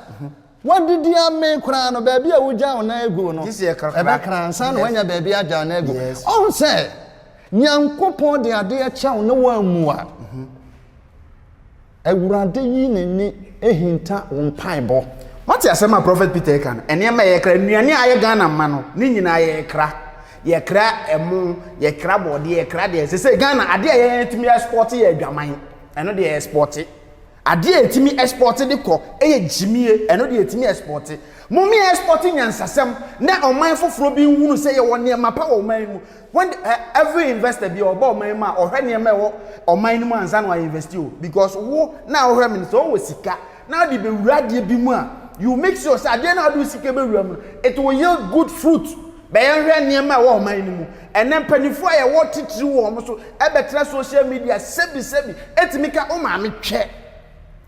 woadidi amee koraa no, baabi a wogyaa wo nan aguu no, ɛbɛkra ansa na woanya baabi agya wo nan agu. Ɔho sɛ, Nyankopɔn de adeɛ kyɛ wo na woammu a. Awurade yi n'ani hinta wo mpaebɔ. Wate asɛm a Prɔfɛt Peter ɛka no? Nneɛma a yɛkra, nnuane a ayɛ Ghana mma no, ne nyinaa yɛkra. Yɛkra ɛmo, yɛkra bɔɔdeɛ, yɛkra deɛ. Sɛ sɛ Ghana, adeɛ a yɛtumi ɛspɔte yɛ adwaman. Ɛno deɛ ɛspɔte. Adeɛ a yɛtumi ɛspɔte de kɔ ɛyɛ gyimie. Ɛno deɛ yɛtumi ɛspɔte. Mome ɛspɔte nyansasɛm na ɔman foforɔ bi nhunu sɛ yɛwɔ nneɛma pa wɔ ɔman yi mu. When the, eh, every investor bi ɔba ɔman yi mu a ɔhwɛ nneɛma ɛwɔ ɔman no mu ansa na wayɛ investi o because wo na ɔhwɛ mi no sɛ ɔwɔ sika na ɔde bɛwura adeɛ bi mu a you make sure sɛ adeɛ na ɔde wo sika bɛwura mu no it will yield good fruit bɛyɛ nhwɛ nneɛma ɛwɔ ɔman no mu ɛnɛ mpanimfoɔ a yɛwɔ titiri wɔ wɔn so ɛbɛtena social media sɛbi sɛbi ɛtumi ka wo maame twɛ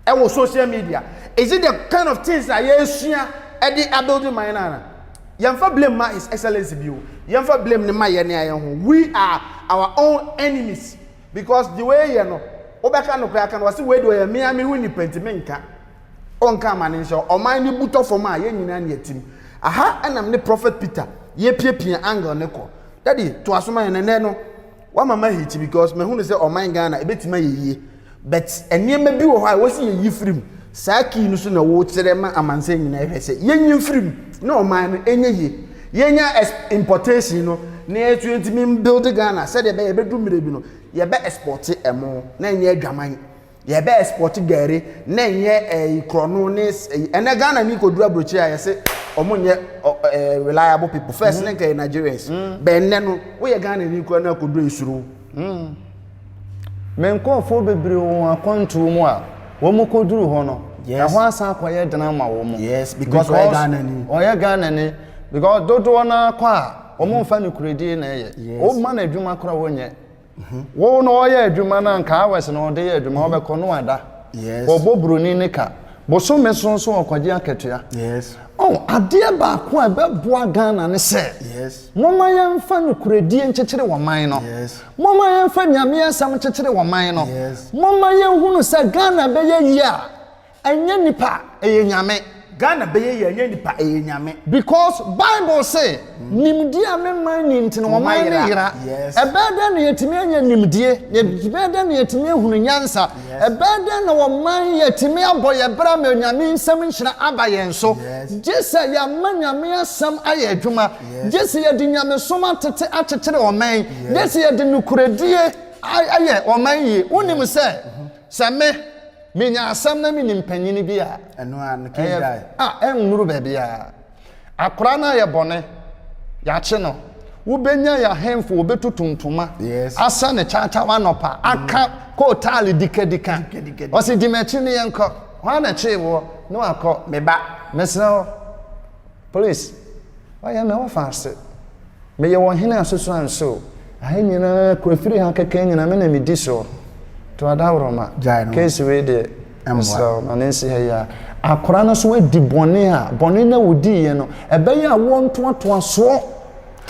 ɛwɔ social media is it the kind of things a yɛresua ɛde abuild man no ana yɛmfa blame ma his excellence bi o yɛmfa blame no ma yɛn ne ayɛ ho we are our own enemies because the way yɛ no wobɛka no koraa ka no wɔsi wei de ɔyɛ mmea me ho nipa nti me nka ɔnka ama ne nhyɛ ɔman ne butɔ fam a yɛn nyinaa ne atim aha ɛnam ne prophet peter yɛpiapia angle ne kɔ dadi to asoma yɛn nɛnɛ no Wama ma hit because mahu no sɛ ɔman Ghana ɛbɛtumi ayɛ yie but nneɛma bi wɔ hɔ a ɛwɔ sɛ yɛyi firi mu saa kii no so na wokyerɛ ma amansan nyinaa hwɛ sɛ yɛnyi mfiri mu na ɔman no ɛnyɛ yie yɛnya importation no na yɛtu yɛntumi mbuild Ghana sɛdeɛ ɛbɛyɛ ɛbɛdu mmerɛ bi no yɛbɛ exporte ɛmo na ɛnyɛ adwaman Yɛ bɛ export gari ne nyɛ ɛyi korɔno ne ɛyi ɛnɛ Ghana ni kɔ duru aburokyire a yɛ se ɔmo nyɛ ɛɛ reliable people first ne nka yɛ Nigerians mm. bɛ ɛnɛ no wo yɛ Ghana ni korɔ na kɔ duru esuro. Mm. Me nkɔɔfoɔ bebree wɔ wɔn akwantuo mu a wɔn kɔ duru hɔ no ɛhɔ asan akɔ yɛ dena ma wɔn mo. Yes because ɔyɛ Ghana ni. Ɔyɛ Ghana ni because dodoɔ naa kɔ a wɔn nfa ne kuredie na ɛyɛ wɔn ma na adwuma korɔ wɔn nyɛ. Wo na ɔyɛ adwuma no anka hours na ɔde yɛ adwuma ɔbɛkɔ no ada. Yes. Ɔbɔ broni ne ka. Bosome so nso ɔkɔgye akatua. Yes. Oh, adeɛ baako a ɛbɛboa Ghana ne sɛ. Yes. Moma yɛmfa nokorɛdie nkyekyere ɔman no. Yes. Moma yɛmfa Nyame asɛm nkyekyere ɔman no. Yes. Moma yɛnhunu sɛ Ghana bɛyɛ yie a Ɛnyɛ nipa ɛyɛ nyame. Ghana bɛyɛ yie ɛnyɛ nipa ɛyɛ nyame. Because bible se nimdeɛ a me man ni nti na ɔman no yera ɛbɛyɛ dɛn na yɛtumi anya nimdeɛ ɛbɛyɛ dɛn na yɛtumi ahunu nyansa ɛbɛyɛ dɛn na ɔman yɛtumi abɔ yɛ bra ma nyame nsɛm nhyira aba yɛn so gyesɛ yɛama nyame asɛm ayɛ adwuma gyesɛ yɛde nyamesom atete akyekyere ɔman gyesɛ yɛde nokoredie ayɛ ɔman yie wonim sɛ Sɛ me, menya asɛm na menim panyin bi a. Ɛno ara no, key guy. A, ɛnnuru baabiara. Akwadaa no ayɛ bɔne, yɛakye no. Wobɛnya yɛ ahemfo, wɔbɛtutu ntoma, asɛ no kyaakyaa anɔpa, aka kootaale dikadika. Ɔse, di m'akyi ne yɛnkɔ. Hwan na ɛkyee woɔ? Ne wakɔ. Me ba. Mesrɛ wo, please, wayɛ me ɔfa ase. Meyɛ wɔn hene asoso anso. Aha nyinaa kɔ afiri ha kɛkɛ nyinaa me na medi soɔ. Toa Dawuroma, case wei deɛ mesrɛ wo ma no nsi ha yi ara. Akwadaa no nso adi bɔne a bɔne no a ɔdiiɛ no ɛbɛyɛ awoɔ ntoatoasoɔ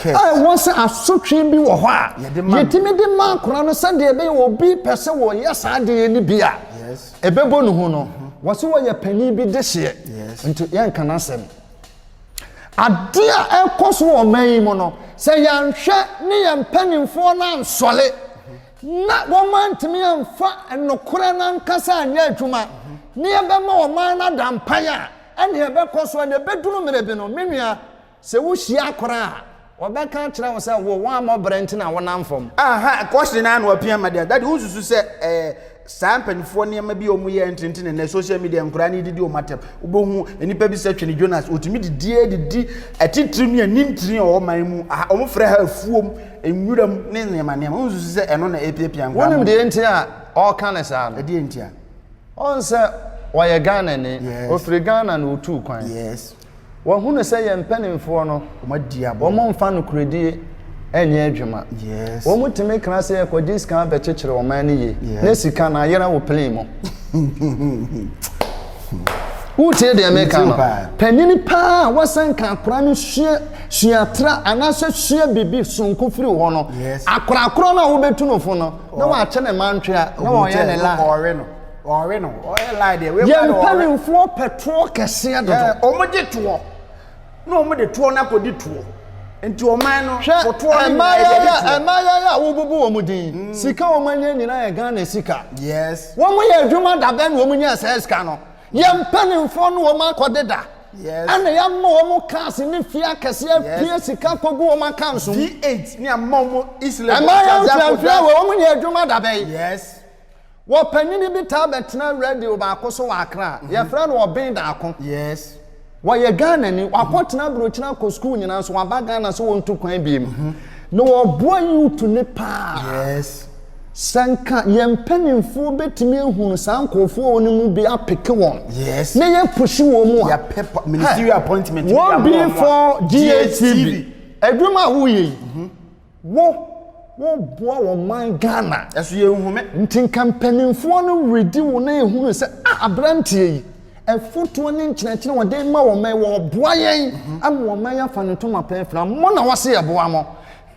a ɛwɔ sɛ asotwe bi wɔ hɔ a yɛtumi de ma akwadaa no sɛdeɛ ɛbɛyɛ obi pɛ sɛ ɔyɛ saa adeɛ no bi a ɛbɛbɔ ne hu no wɔse wɔyɛ panin bi dehyeɛ nti yɛnka n'asɛm. Adeɛ a ɛrekɔ so wɔ ɔman yi mu no, sɛ yɛanhwɛ ne yɛn mpanimfoɔ no ansɔre na wɔantumi amfa nokorɛ no ankasa anyɛ adwuma na yɛbɛma ɔman no ada mpan a, ɛnneɛ ɛbɛkɔ so na ɛbɛduru mmerɛ bi no, me nua, sɛ wohyia koraa a, Wɔbɛka akyerɛ wo sɛ wo wammɔ brɛ nti na wonam fam. Aha, kɔhye no ara na wɔpia ama deɛ. Daddy, wonsusu sɛ ɛyɛ saa mpanimfoɔ nneɛma bi a wɔyɛ ntenten na ɛnɛ social media nkoraa ne didi wɔn atɛm. Wobɛhu nnipa bi sɛ Twene Jonas, wɔtumi didie didi atitire ne anintini a ɛwɔ man mu. Aha, wɔfrɛ ha afuom, nwuram ne nneɛma nneɛma. Wonsusu sɛ ɛno na ɛrepiapia nkoraa ma wɔn. Wonim deɛ nti a ɔreka no saa no? Ɛdeɛn nti a? Ɔhu sɛ ɔyɛ Ghanani. Yes. Ɔfiri Ghana na ɔtuu kwan. Yes. Wɔahunu sɛ yɛn mpanimfoɔ no. Wɔadi aboɔ. Wɔmfa nokorɛdie nyɛ adwuma. Yes. Wɔtumi kra sɛ yɛkɔgye sika bɛkyekyere ɔman no yie. Yes. Na sika no ayera wɔ plane mu. Wotie deɛ meka no? Metie paa. Panyin paa a wasan ka akora no sua sua tra anaasɛ sua biribi sononko firi wo hɔ no, Yes. akora korɔ no a wobɛtu no fo no, na wakyɛ ne mantwea na Ɔbɛkyɛ wɔyɛ ne no, la. ɔɔwe no. Wɔwe no. Ɔyɛ lie deɛ. Wei Yɛn mpanimfoɔ pɛ toɔ kɛseɛ dodo. Wɔn gye toɔ. Na wɔn de toɔ no akɔdi toɔ. Nti ɔman no fo toɔ no nyinaa yɛ de toɔ. Mmaayaya a wobubu wɔn din. Mm. Sika wɔn anya nyinaa yɛ Ghana sika. Yes. Wɔn yɛ adwuma da bɛn na wɔn nya saa sika no. Yɛn mpanimfoɔ no wɔn akɔde da. Yes. Ɛna yɛama wɔn cars ne fie akɛseɛ apia sika kɔgu wɔn account so. D8 ne ama wɔn Islam. Mmaayaya mfrafra wɔ wɔn yɛ adwuma da bɛn. Yes. Wɔ panyin bi taa bɛtena radio baako so wɔ Accra, yɛfrɛ no Ɔben Daako. Yes. Wɔyɛ Ghanani, wakɔ tena aburokyire akɔ school nyinaa nso waba Ghana sɛ wɔntu kwan biem. Na ɔboa youth no paa. Yes. Sɛ nka yɛn mpanimfoɔ bɛtumi ahunu saa nkorɔfoɔ no mu bi apeke wɔn. Yes. Na yɛ pushi wɔn mu a. Yɛ pɛ pa, ministerial appointment. Wɔn bi for GHTV. Adwuma a woyɛ yi. Wo, wo boa wɔ man Ghana. Yɛso yɛ nhome. Nti nka mpaninfoɔ no redi wo na ehunu sɛ ah abranteɛ yi, ɛfotoɔ ne nkyerɛkyerɛ a ɔde ma wɔn yi ɔboa yɛn ama wɔn ma yɛafa ne ntoma pɛn fira. Mo na wɔse yɛboa mo.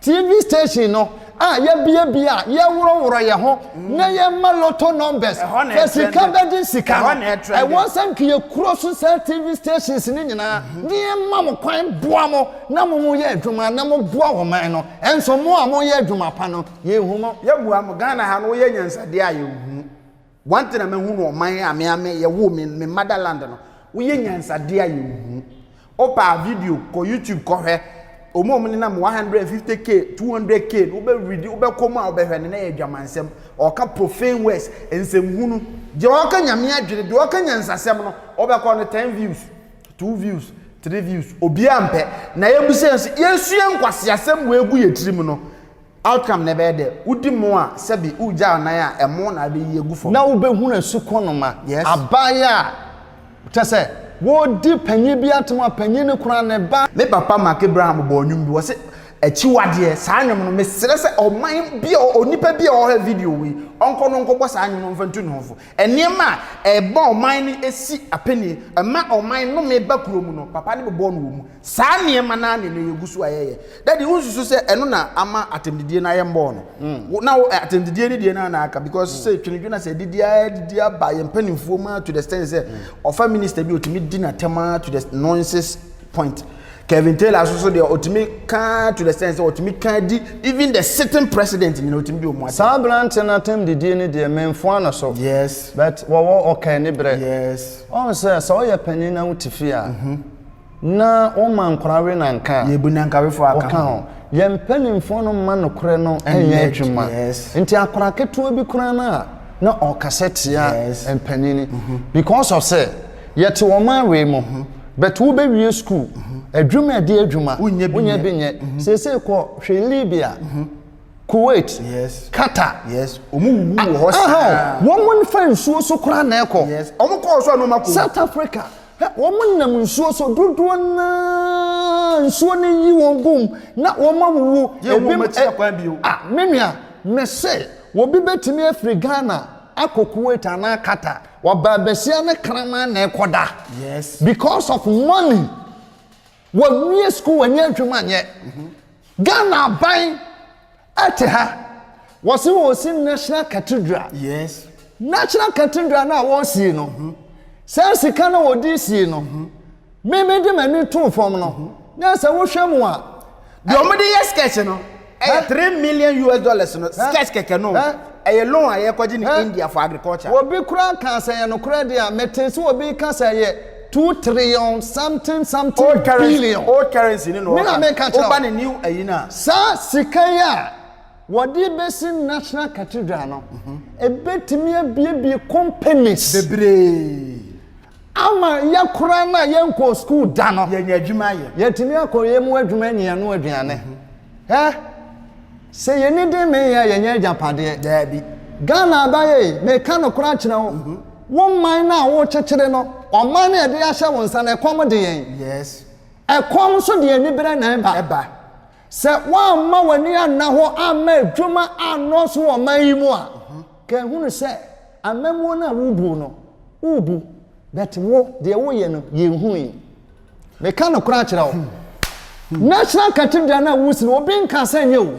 TV station no a yɛbiabia a yɛworɔworɔ yɛn ho na yɛma lotto numbers na sika bɛgye sika no, ɛwɔ sɛ nka yɛkuro so saa TV stations no nyinaa na yɛma mo kwan boa mo. na mo mo yɛ adwuma na mo boa wɔ man no ɛnso mo a mo yɛ adwuma pa no yɛ nhu mo. Yɛ mua mo Ghana ha no wo yɛ nyansadeɛ a yɛ nhu wo one thing a ma hu no ɔman a me a me yɛ wo me me mother land no wo yɛ nyansadeɛ a yɛ nhu wo pa a video kɔ YouTube kɔ hwɛ ɔmo ɔmo ne nam 150k 200k no wo bɛ read wo bɛ kɔ mu a wo bɛ hwɛ no na yɛ adwamansɛm ɔka profane words nsɛm hunu deɛ ɔka nyame adwene deɛ ɔka nyansasɛm no wo bɛ kɔ no 10 views two views three views obiara mpɛ na yɛbisa yɛn sɛ yɛsua nkwaseasɛm wɔ egu yɛ tirim no outcome na ɛbɛyɛ dɛ wodi mo a sɛbi wogya anan a ɛmo na abɛyi agu fam. na wobɛhunu asukɔnoma Yes. aban a kyɛ sɛ wɔredi panyin bi atom a panyin no kura ne ba. Me papa Mark Abraham bɔɔ nnwom bi wɔse akyiwadeɛ saa nnwom no mesrɛ sɛ ɔman bi a onipa bi a ɔhwɛ video wei ɔnkɔ no nkɔbɔ saa nnwom no mfa ntu ne ho fo Nneɛma a ɛbɔ ɔman no si apinie, ɛma ɔman nnome ba kuro mu no, papa no bobɔɔ no wɔ mu. Saa nneɛma no ara na ɛnnɛ yɛgu so a yɛyɛ. Daddy, wonsusu sɛ ɛno na ama atɛmdidie no ayɛ mmɔɔ no? Wo, na wo, atɛmdidie no deɛ no ara na aka because sɛ twenedwene a sɛ adidi ara adidi aba yɛn mpanimfoɔ mu ara to the extent sɛ ɔfa minister bi a ɔtumi di n'atɛm ara to the noises point. Kevin Taylor nso so deɛ ɔtumi kaa to the sense sɛ ɔtumi kaa di even the sitting president nyina ɔtumi di ɔmo atɛm. Saa aberante no atɛm didie no deɛ menfoa no so Yes. but wɔwɔ ɔka aniberɛ. Yes. Ɔhu sɛ sɛ woyɛ panin na wote fie a na woma nkwadaa we nanka a, Yɛbu nankawefoɔ aka woka ho. ho. Yɛn mpanimfoɔ no mma nokorɛ no Ɛnyɛ nyɛ adw- adwuma. yes. Nti akwadaa ketewa bi koraa no a na ɔrekasa tia Yes. mpanin because of sɛ Yɛte wɔn awee mo ho. But wo bɛ wie school. Adwuma ɛdeɛ adwuma. Wo nyɛ bi nyɛ. Wo nyɛ bi nyɛ. Seesei kɔ hwɛ Libya. Kuwait. Yes. Qatar. Yes. Omo wuwu wɔ hɔ saa. Aha o. Wɔn mo nfa nsuo so koraa na ɛkɔ. Yes. Omo kɔɔ so a na ɔmo akɔ wu. South Africa. Hɛ wɔn mo nam nsuo so dodoɔ naa nsuo no yi wɔn gu mu na wɔn awuwu. Yɛn hu wɔn akyi da kwan bio. Ah me nua. Mese obi bɛtumi afiri Ghana akɔ Kuwait anaa Qatar. Wɔbaa basia ne kraman na ɛkɔda. Yes. Because of money. Wɔnwie school wɔnyɛ adwuma nyɛ. Mm-hmm. Ghana aban ɛte ha. Wɔsi wɔsi national cathedral. Yes. National cathedral na wɔsi no. Mm-hmm. Sɛ sika na wɔdi si no. Mm-hmm. Me me de m'ani too fam no, na sɛ wohwɛ mu a. Deɛ wɔn de yɛ sketch no, ɛyɛ three million US dollars no, sketch kɛkɛ no, ɛyɛ loan a yɛkɔgye no India for agriculture. Obi koraa kaa sɛ ɛyɛ nokorɛ deɛ a, metee sɛ obi reka sɛ ɛyɛ two trillion something something billion. Old currency ne na ɔka. Me na meka kyerɛ wo. Woba ne new ayi no a. Saa sika yi a wɔde bɛsi National Cathedral no, ɛbɛtumi abuebue companies. Bebree. Ama yɛ koraa no a yɛnkɔɔ sukuu da no, yɛanya adwuma ayɛ. Yɛatumi akɔ yɛn mu adwuma anya yɛn ano aduane. Hɛ! Sɛ yɛn ani den mee yɛn a, yɛnyɛ agyapadeɛ. Daabi. Ghana abaeɛ yi, meka nokorɛ akyerɛ wo, wo man no a worekyekyere no, ɔman no a yɛde ahyɛ wo nsa no, ɛkɔm de yɛn. Yes. Ɛkɔm nso de aniberɛ na ɛba. Ɛba. Sɛ woamma w'ani anna hɔ amma adwuma annɔɔso wɔ ɔman yi mu a, kan hunu sɛ amammuo no a wobu no, wobu, but wo, deɛ woyɛ no, yɛnhui. Meka nokorɛ akyerɛ wo, National Cathedral no a wosi no, obi nka asɛ nyɛ wo.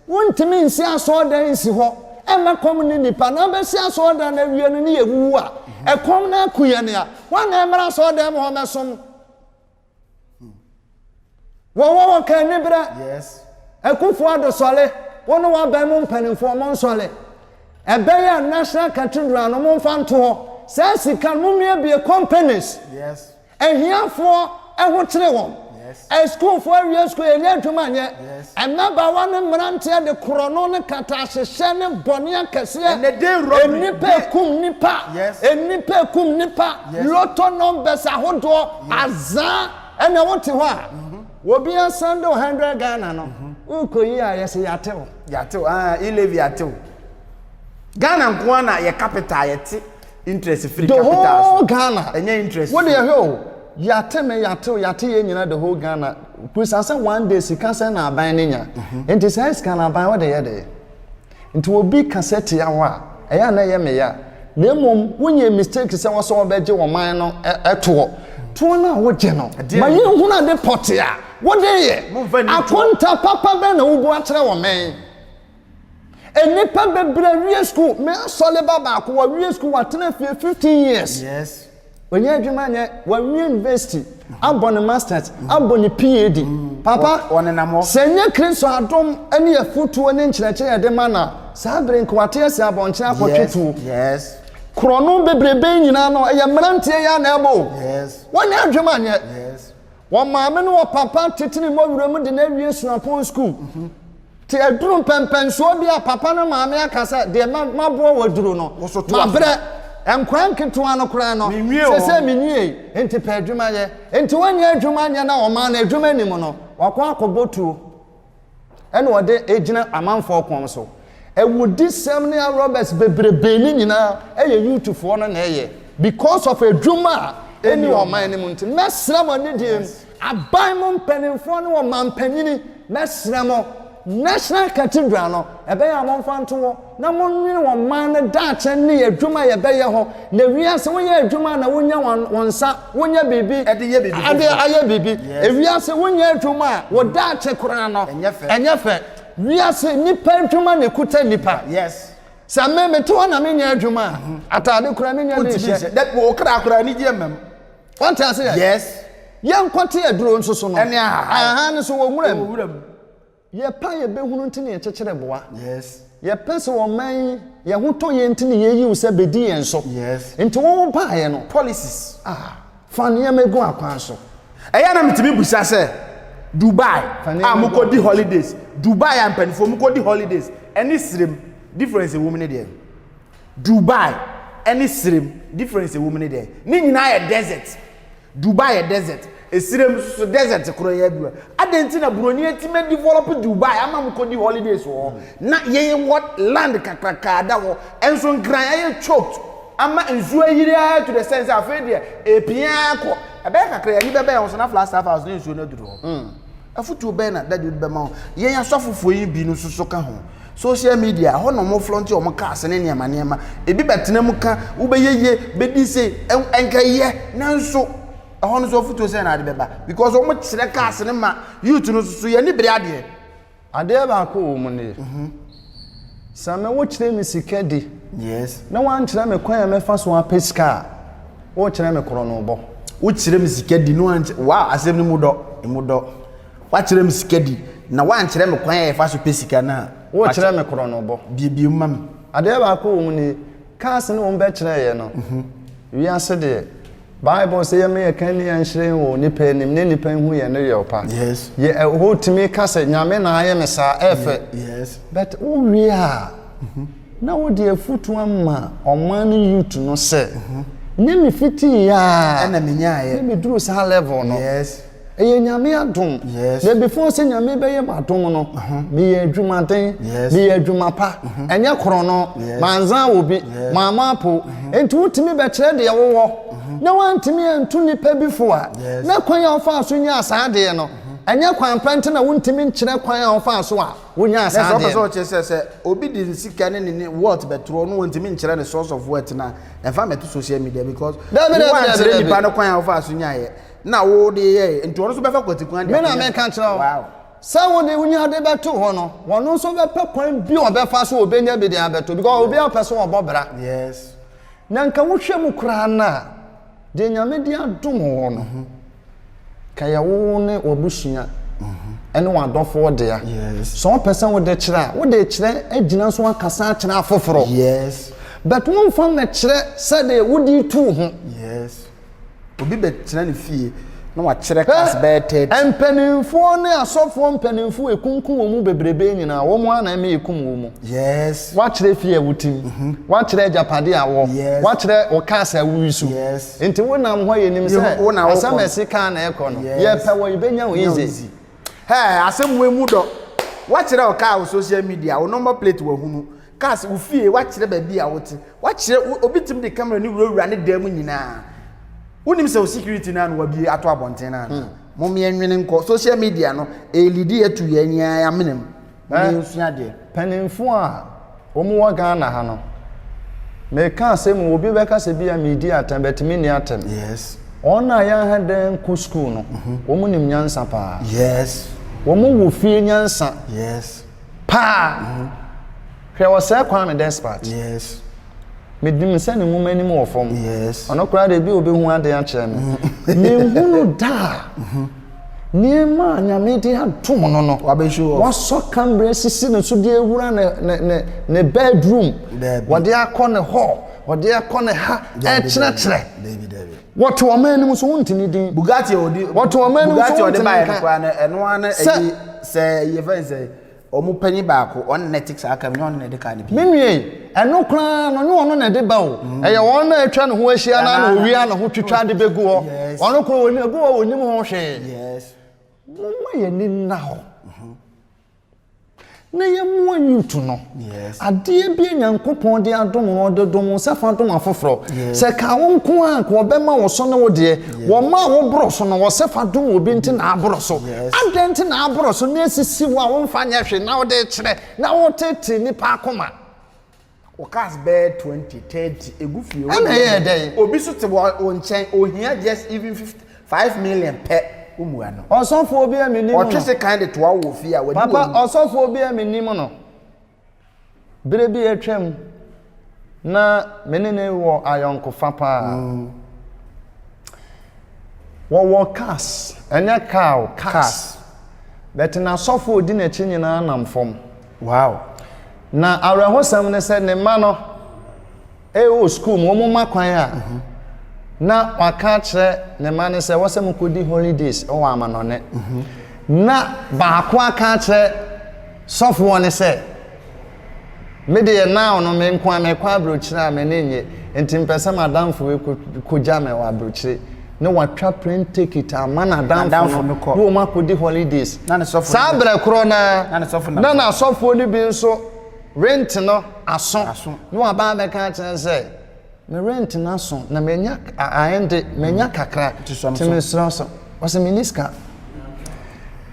Wontumi nsi asɔɔdan nsi hɔ mma kɔm nne nnipa, na wobɛsi asɔɔdan no awie no ne yɛwuwu a, ɛkɔm no aku yɛn a, woa na ɛmmra asɔɔdan mu hɔ mmɛsom? Wɔn wɔ wɔn ka aniberɛ. Yes. Akufo Addo sɔre, wo ne w'aban mu mpanimfoɔ mo nsɔre. Ɛbɛyɛ a National Cathedral no mo mfa nto hɔ. Saa sika no mo mmiabie companies. Yes. Ahiafoɔ ahokyere wɔn. Yes. Asukuufoɔ awie sukuu yɛnya adwuma nyɛ. Yes. Mmabaawa ne mmeranteɛ de korɔno ne katahyehyɛ ne bɔne akɛseɛ, Ɛnɛ day robbery, nnipa day- ɛkum nnipa, Yes. nnipa ɛkum nnipa, Yes. lotto numbers ahodoɔ, azaa, ɛnna wote hɔ a, obi asan de wo 100 Ghana no, wokɔyi a yɛse yɛate wo. Yɛatew, ah, e-levy atew. Ghana nko ara na yɛ capital a yɛte. Interest firi the whole capital so. ghana Ɛnyɛ interest wode firi. ɛhwɛ o yɛate me yɛate o yɛate yɛn nyinaa the whole ghana kurusa sɛ one day sika sɛ na aban no nya nti saa sika no aban wode yɛ dee nti obi ka sɛ tia hɔ a ɛyɛ a na ɛyɛ me ya na mmom wonyɛ mistake sɛ wɔsɛ wɔbɛgye wɔ man no ɛ- ɛtoɔ toɔ no a wogye no Ɛdeɛ ma ne- yɛnhunu ade pɔte a wode yɛ Momfa nni toɔ. akonta papa bɛn na wobu akyerɛ wɔ mɛn Nnipa bebree wie sukuu. Me asɔreba baako, wawie sukuu, watena fie 15 years. Yes. Ɔnyɛ adwuma nyɛ, wawie university, abɔ ne masters, abɔ ne PAD. Mm. Papa, wɔnenam hɔ. Sɛ nyɛ Kristo adom ne afotuo ne nkyerɛkyerɛ yɛde ma no a, saa bere nka wate asi abɔnten akɔtwe tuo. Yes. Korɔno bebrebe nyinaa no, ɛyɛ mmeranteɛ yɛ na ɛbɔ o. Yes. Wɔnyɛ adwuma nyɛ. Yes. Wɔn maame ne wɔn papa tete ne mɔwura mu de no awie suapɔn sukuu. Te aduru mpɛmpɛnsoɔ bi a papa ne maame aka sɛ deɛ maboa wɔ aduru no, mabrɛ. Nkora nketewa no koraa no, sɛsɛ menwie, enti pɛ adwuma yɛ. Enti wɔnnya adwuma nyɛ na wɔmaa no adwuma nim no, wakɔ akɔbɔ tuo. ɛna ɔde gyina amanfoɔ kɔn so. Awudisɛm ne arɔbɛs bebrebe ne nyinaa ɛyɛ youthfoɔ no na ɛyɛ because of adwuma a ɛni ɔman no mu nti mɛsrɛ mo anidie mu aban mu mpanimfoɔ ne ɔmanpanyini mɛsrɛ mo National Cathedral no ɛbɛyɛ a momfa nto hɔ. na monnwene wɔn mmaa no daakye ne adwuma a yɛbɛyɛ ho, na wiase, woyɛ adwuma a na wonya wɔn, wɔn nsa, wonya biribi de yɛ biribi de foforɔ. ayɛ biribi. Yes. Wiase, wonyɛ adwuma a, wɔ daakye koraa no, Ɛnyɛ fɛ. ɛnyɛ fɛ. Wiase, nnipa adwuma na ɛkuta nnipa. Yes. Sɛ me, mete hɔ na menyɛ adwuma a, ataade koraa menya ne Wontumi nhyɛ. nhyɛ. Dɛ wɔ kra koraa anigyeɛ mma mu. Wante ase yɛ? Yes. Yɛnkɔte aduro nso so no. Ɛne ahahai. Ahahai no so wɔ nwura mu. Wɔ wuram. Yɛpɛ a yɛbɛhunu nti na yɛkyekyere boa. Yɛpɛ sɛ ɔman yi yɛn ho tɔ yɛn nti na yɛyi wo sɛ bɛdi yɛn so. Nti wo wo baeɛ no, policies, ah, fa nneɛma gu akwan so. Ɛyɛ a na metumi bisa sɛ, Dubai a mokɔdi holidays, Dubai a mpanimfoɔ mokɔdi holidays ne serem, difference ɛwɔ mu ne deɛn? Dubai ne serem, difference ɛwɔ mu ne deɛn? Ne nyinaa yɛ desert. Dubai yɛ desert, esirem nso so desert koro yɛ adwuma. Adɛn nti na buroni atumi adevelop Dubai ama mo kɔdi holidays wɔ hɔ? Na yɛn wɔ land kakraka ada hɔ, nso nkran ayɛ choked ama nsuo ayiri ara to the sense sɛ afei deɛ ɛrepia ara kɔ. Ɛbɛyɛ kakra yi, ani bɛbɛn hɔ so na Flagstaff House ne nsuo no aduru hɔ. Afotuo bɛn na Daddy wode bɛma wo? Yɛn asɔfofoɔ yi bi no nso so ka ho. Social media, ɛhɔ na wɔn flɔnte wɔn cars ne nneɛma nneɛma. Ebi bɛtena mu ka, wobɛyɛ yie, bɛdi se, ɛnka yɛ, nanso ɛhɔ no nso afotuo sɛn na wode bɛba? Because wɔn kyerɛ cars no ma youth no nso so, yɛn ani bere adeɛ. Adeɛ baako wɔ mu nie, sɛ me wokyerɛ me sika di na woankyerɛ me kwan a mɛfa so apɛ sika a, wokyerɛ me korɔnobɔ. Wokyerɛ me sika di na woankyerɛ, wow, asɛm no mu dɔ, ɛmu dɔ. Woakyerɛ me sika di na woankyerɛ me kwan a yɛfa so pɛ sika no a. Wokyerɛ me korɔnobɔ. Biebie mu ma me. Adeɛ baako wɔ mu nie, cars ne wɔbɛkyerɛeɛ no, wiase deɛ, Bible se yɛma yɛ kanea nhyerɛn wɔ onipa anim na nnipa nhu yɛn no yɛ ɔpa. Yes. Yɛ ɛhɔ eh, tumi ka sɛ nyame na ayɛ me saa ɛfɛ. Yes. But wo wie a mhm. na wo de afutu ama ɔman no youth no sɛ mhm. ne me fiti ya. Ɛna me nya ayɛ. Ne me duru saa level no. Yes. Ɛyɛ Nyame adom. Yes. Na before sɛ Nyame bɛyɛ m'adom no, uh-huh. meyɛ adwumaden, yes. meyɛ adwuma pa, uh-huh. ɛnyɛ korɔno, yes. manzan wɔ bi, yes. maama apo. Uh-huh. Enti wotumi bɛkyerɛ deɛ wowɔ, uh-huh. na wantumi antu nipa bi fo a, yes. na kwan a wofaa so nyaa saa adeɛ no, uh-huh. ɛnyɛ kwan pa nti na wontumi nkyerɛ kwan a wofaa so a wonyaa saa adeɛ no. Ɛsɛ ɔpɛ sɛ ɔkyerɛ sɛ sɛ obi de nsika ne ne wɔt bɛtorɔ no wɔntumi nkyerɛ ne source of wealth na ɛfa mɛto social media because wɔankyerɛ nipa no kwan a wofaa so nyaeɛ. na wode yɛe, nti wɔn nso bɛfa kwati kwan de akɔnya. Me na meka kyerɛ wo. Wow. Sɛ wode wo ade bɛto hɔ no, wɔn nso bɛpɛ kwan bi a wɔbɛfa so wɔbɛnya bi de abɛto because obiara pɛ sɛ wɔbɔ bra. Yes. Na nka wohwɛ mu koraa no a, deɛ Nyame de adom wɔ no, mhm. ka yɛ wo ne w'abusua mhm. ɛne w'adɔfoɔ dea. Yes. Sɛ wɔpɛ sɛ wode kyerɛ a, wode kyerɛ agyina so akasa akyerɛ afoforɔ. Yes. But womfa mmɛkyerɛ sɛdeɛ wode tu ho. Yes. Obi bɛtena ne fie na wakyerɛ kas bɛyɛ thirty. Mpanimfoɔ ne asɔfoɔ mpanimfoɔ ekunkum wɔn mu bebrebe nyinaa wɔn ara na ɛmɛ ekum wɔn mu. Yes. Wakyerɛ fie a wotim. Mhm. Wakyerɛ agyapadeɛ a wɔ. Yes. Wakyerɛ wɔ kas a wui so. Yes. Nti wo nam hɔ yɛ nim sɛ. Wo na wokɔ. Asɛm ɛsi kan na ɛkɔ no. Yes. Yɛpɛ wɔ yɛ bɛ nya wɔn easy. Hɛ asɛm wɔ emu dɔ. Wakyerɛ wɔ kaa wɔ social media wɔ number plate wɔ hunu. Ka sɛ, wo fie, woakyerɛ baabi a wote, woakyerɛ, obi tumi de camera no wurawura ne dan mu nyinaa. Wonim sɛ wo security no a na wabie ato abɔnten no anaa? Hmm. Mom yɛnwene nkɔ, social media no, ɛrelidi atu yɛn ani ara amenam. Mom eh, yɛnsua deɛ. Mpanimfoɔ a wɔwɔ Ghana ha no, meka asɛm mu, obi bɛka sɛ bi a meredi atɛm, but menni atɛm. Yes. Wɔn a yɛaha dɛn kɔ sukuu no, mhm. wɔn nim nyansa paa. Yes. Wɔn wɔ fie nyansa. Yes. paa mhm. hwɛ wɔsɛe kwame despart yes medim sɛ ne nwoma anim wɔ fam yes ɔno koraa de bi obɛhu adeɛ akyerɛ me mhm. menhunu daa mhm. nneɛma a nyame de atom no no wasɔ kamberɛ sisi ne so de awura ne bedroom wɔde akɔ ne hɔ wɔde akɔ ne ha ɛkyerɛkyerɛ Wɔto ɔman no mu so wonte ne din. Bugatti a ɔde wɔto ɔman no mu so wonte ne nka. Bugatti a ɔde baeɛ no koraa no ɛno ara na ɛyɛ sɛ ɛyɛ fɛn sɛ wɔn panyin baako ɔno na ɛte saa kam na ɔno na ɛde kaa no pii. Me nua yi ɛno koraa no ne ɔno na ɛde ba o mm. ɛyɛ wɔn na atwa ne ho ahyia na na owia na ho twitwa de bɛgu hɔ ɔno koraa wɔn egu hɔ wɔn nim ho hwee. Yes. Mo ma yɛ ni nna hɔ. Mm-hmm. Na yɛmmoa nnwonto no. Adeɛ bi a Nyankopɔn de adom no, ɔde dom wo nsa fa dom afoforɔ. Sɛ ɛkaa wo nko ara anka ɔbɛma wo so ne wo deɛ. Wɔmaa wo boro so no, ɔse fa dom obi nti na aboro so. Adɛn nti na aboro so na asisi wo a womfa nyɛ hwee na wode rekyerɛ na woreteetee nnipa akoma? Wɔ cars bɛyɛ twenty thirty egu fie. Ɛna ɛyɛ dɛn. Obi so te wɔ wɔ nkyɛn ohia just even fifty five million pɛ womua no. Ɔsɔfoɔ bi a mi nim no. Ɔtwe se kan de toa wo wɔ fie a wadi wɔ mu. Papa ɔsɔfoɔ bi a mi nim no bere bi atwa mu na me ne no wɔ ayɔnkofa paa. Mm. Wɔwɔ cars ɛnyɛ car o cars. Cars. But n'asɔfo odi n'akyi nyinaa nam fam. Wow! Na awerɛhosɛm ne sɛ ne mma no wɔ sukuu mu, wɔn ma kwan a, na waka akyerɛ ne mma no sɛ wɔsɛ mo kɔdi holidays wɔ amanɔne. Na baako aka akyerɛ sɔfoɔ no sɛ, me deɛ now no me nko a mekɔ aburokyire a m'ani nnye, nti mpɛ sɛ m'adamfo yi kɔgya me wɔ aburokyire. na watwa plane ticket ama n'adamfo no kɔ na wɔn akɔdi holidays saa berɛ korɔ no ara na n'asɔfoɔ no bi nso rent no aso na waba abɛka akyerɛ sɛ me rent no aso na manya aɛnde manya kakra nti mesrɛ so ɔsɛ menni sika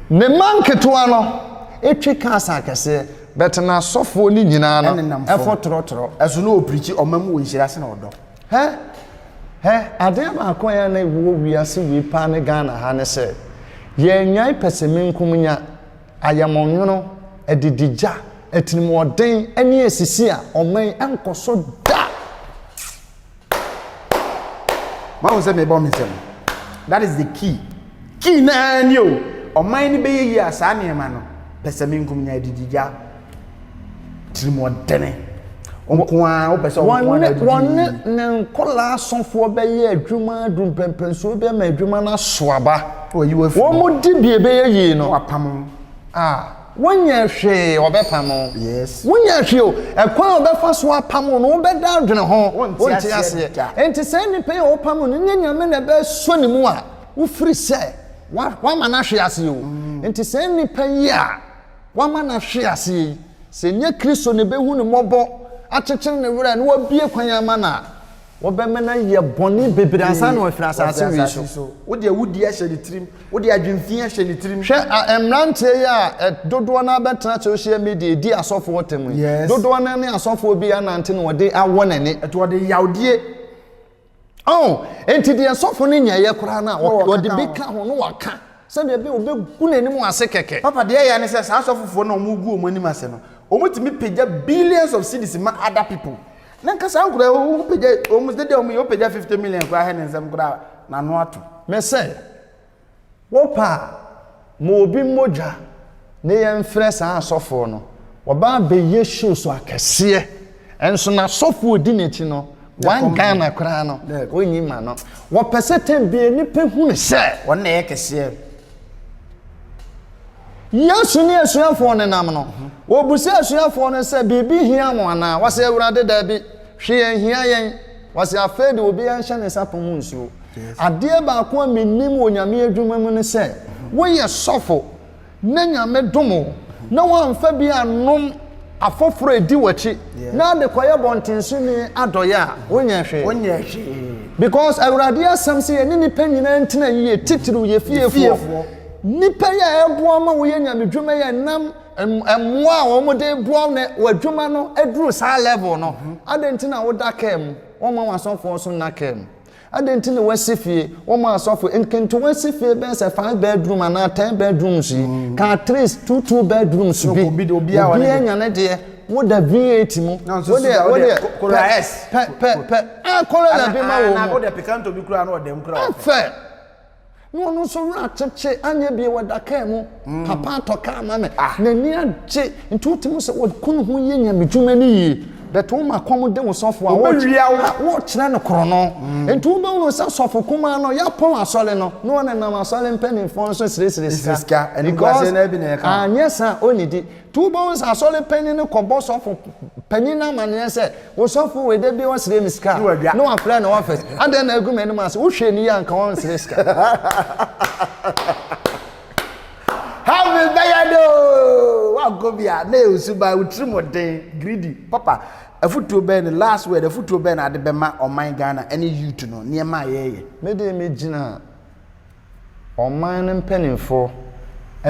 ne mma nketewa no ɛtwi ka asa akɛseɛ bɛtena asɔfoɔ no nyinaa no ɛfo torɔtorɔ ɛso na ɔpirikyi ɔma mu wɔ nhyira se na ɔdɔ Hɛ! Hɛ! Adeɛ baako a na ɛwɔ wiase wei paa ne Ghana ha ne sɛ, yɛannyae pɛsɛmenkomenya, ayamɔnwono, adidigya, atirimuɔden ne asisi a ɔman yi nkɔ so da! Moahu sɛ merebɔ me nsam? That is the key. Key no ara ni o, ɔman no bɛyɛ yie a saa nneɛma no, pɛsɛmenkomenya, adidigya, tirimɔdɛne nko ara wopɛ sɛ wɔn nko ara wɔne ne nkɔla asɔfoɔ bɛyɛ adwuma adu mpɛmpɛnsuo bi ma adwuma no aso aba wɔn di bie bɛyɛ yie no wapam a wonyɛ hwee ɔbɛpam wonyɛ hwee o ɛkwan a ɔbɛfa so apam no wobɛda adwene ho wonte aseɛ enti saa nnipa yi a wɔpam no nyɛ nyame na ɛbɛsɔ ne mu a wofiri sɛ wama no ahwe aseɛ o mm. enti saa nnipa yi a wama no ahwe ase yi, sɛ ɛnyɛ Kristo na ɛbɛhu no mmɔbɔ, akyekyere ne werɛ, na wabue kwan ama no a, wɔbɛma no ayɛ bɔne bebree ansa na wafiri asase wei so. Wode awudie ahyɛ ne tirim, wode adwemfi ahyɛ ne tirim. Hwɛ a mmeranteɛ yi a dodoɔ no ara bɛtena social media redi asɔfoɔ ɔtam yi, dodoɔ no ara ne asɔfoɔ bi anante na ɔde awɔ n'ani. Ɛti ɔde yawdie. Oh, enti deɛ sɔfo no nyɛeɛ koraa no a, Na wɔka wɔde ka bi ho. ka ho na wɔaka sɛdeɛ ɛbɛyɛ wɔbɛgu n'anim ase kɛkɛ. Papa, deɛ ɛyɛ ne sɛ saa asɔfofoɔ no a wɔgu wɔn anim ase no, wɔtumi pagya billions of cedis ma other people. Na nka saa nkoraa yi, wo- wopagya wɔn, sɛdeɛ wɔyɛ, wopagya 50 million koraa hɛ ne nsam koraa a, n'ano ato. Mese, Wo pɛ a, ma obi mmɔ dwa ne yɛn mfrɛ saa asɔfoɔ no. Wɔba abɛyɛ show so akɛseɛ. Nso n'asɔfoɔ ɔdi n'akyi no, one Ghana koraa no, ɔnyi ma no. Wɔpɛ sɛ time biara nnipa hunu sɛ wɔn na ɛyɛ kɛseɛ. Yesu ne asuafoɔ no nam no, wɔbisa asuafoɔ no sɛ, Biribi hia mo anaa? Wɔse, Awurade, daabi, hwee anhia yɛn. Wɔse, Afei deɛ obiara nhyɛ ne nsa pɔn mu nsuo. Adeɛ baako a menim wɔ Nyame adwuma mu ne sɛ, woyɛ sɔfo na Nyame dom wo na woamfa bi annom afoforɔ a ɛdi w'akyi na ade kɔyɛ bɔntensoni adɔeɛ a, wonyɛɛ hwee. Because Awurade asɛm se yɛne nnipa nyinaa ntena yie, titiriw yɛ fiefoɔ. Nnipa yi a ɛboa wo ma woyɛ Nyame dwuma yi a ɛnam mmoa a wɔde boa wo na w'adwuma no aduru saa level no, adɛn nti na woda kaa mu? Wɔmma w'asɔfoɔ nso nna kaa mu. Adɛn nti na wɔasi fie? Wɔn asɔfo, nketewa si fie bɛyɛ sɛ five bedroom anaa ten bedrooms yi, ka at least two two bedrooms bi. Obiara nya ne deɛ. Woda V8 mu. Wodeɛ, wodeɛ, pɛ, pɛ, pɛ, pɛ. Ah, Corolla bi ma wɔn mu. Afɛ. Na ɔno nso werɛ akyekye, anyɛ bie, ɔda kaa mu, papa atɔ kaa ama me, n'ani agye, nti wotumi sɛ ɔkunu ho yɛ nyamedwuma no yie, but woma kɔm de wo sɔfo a, wɔrekyerɛ no korɔno, nti wobɛhu no sɛ sɔfo kumaa no, yɛapɔn asɔre no, na ɔnenam asɔre mpaninfoɔ no so sresre sika, because anyɛ saa a ɔnnidi, Two Bones asɔre panyin no kɔbɔ sɔfo panyin no amanneɛ sɛ, Osɔfo wei da biara ɔsrɛ me sika na wafrɛ ne ɔfɛs. Adɛn na agu m'anim ase? Wohwɛ no yie a anka ɔrensrɛ sika. Heaven bɛyɛ dɛ oo! Woankɔ bi a, na ɛyɛ wo suban, wo tirimɔden, greedy. Papa, afotuo bɛn ne last word, afotuo bɛn na ade bɛma ɔman Ghana ne youth no, nneɛma a yɛreyɛ? Me deɛ megyina ɔman no mpanimfoɔ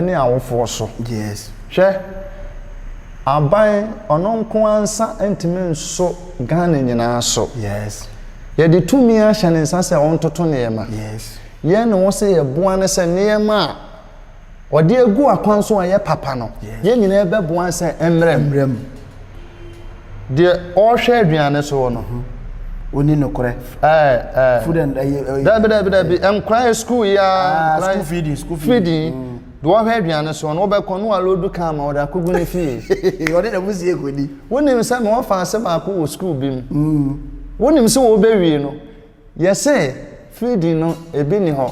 ne awofoɔ so. Yes. Hwɛ, aban ɔno nko ara nsa ntumi nso Ghana nyinaa so. Yes. Yɛde tumi ahyɛ ne nsa sɛ ɔntoto nneɛma. Yes. Yɛn ne wo sɛ yɛboa no sɛ nneɛma a Wɔde agu akwan so a ɛyɛ papa no, yɛn nyinaa bɛboa sɛ mmrɛ mu. Deɛ ɔrehwɛ aduane soɔ no. Mhm. Ɔni nokorɛ. Ɛɛ ɛɛ. Food and ɛyɛ ɛyɛ. Dabi dabi dabi nkora yɛ sukuu yi ara. Ah, nkora school feeding school feeding. feeding. Mm. Deɛ ɔhwɛ aduane soɔ no wobɛkɔ no alodu kan ma ɔde akɔgu ne fie. Ɔde na mo sie kɔdi. Wonim sɛ ma wɔfa ase baako wɔ sukuu bi mu. Mm. Wonim sɛ wɔbɛwie no Yɛ se feeding no ebi ni hɔ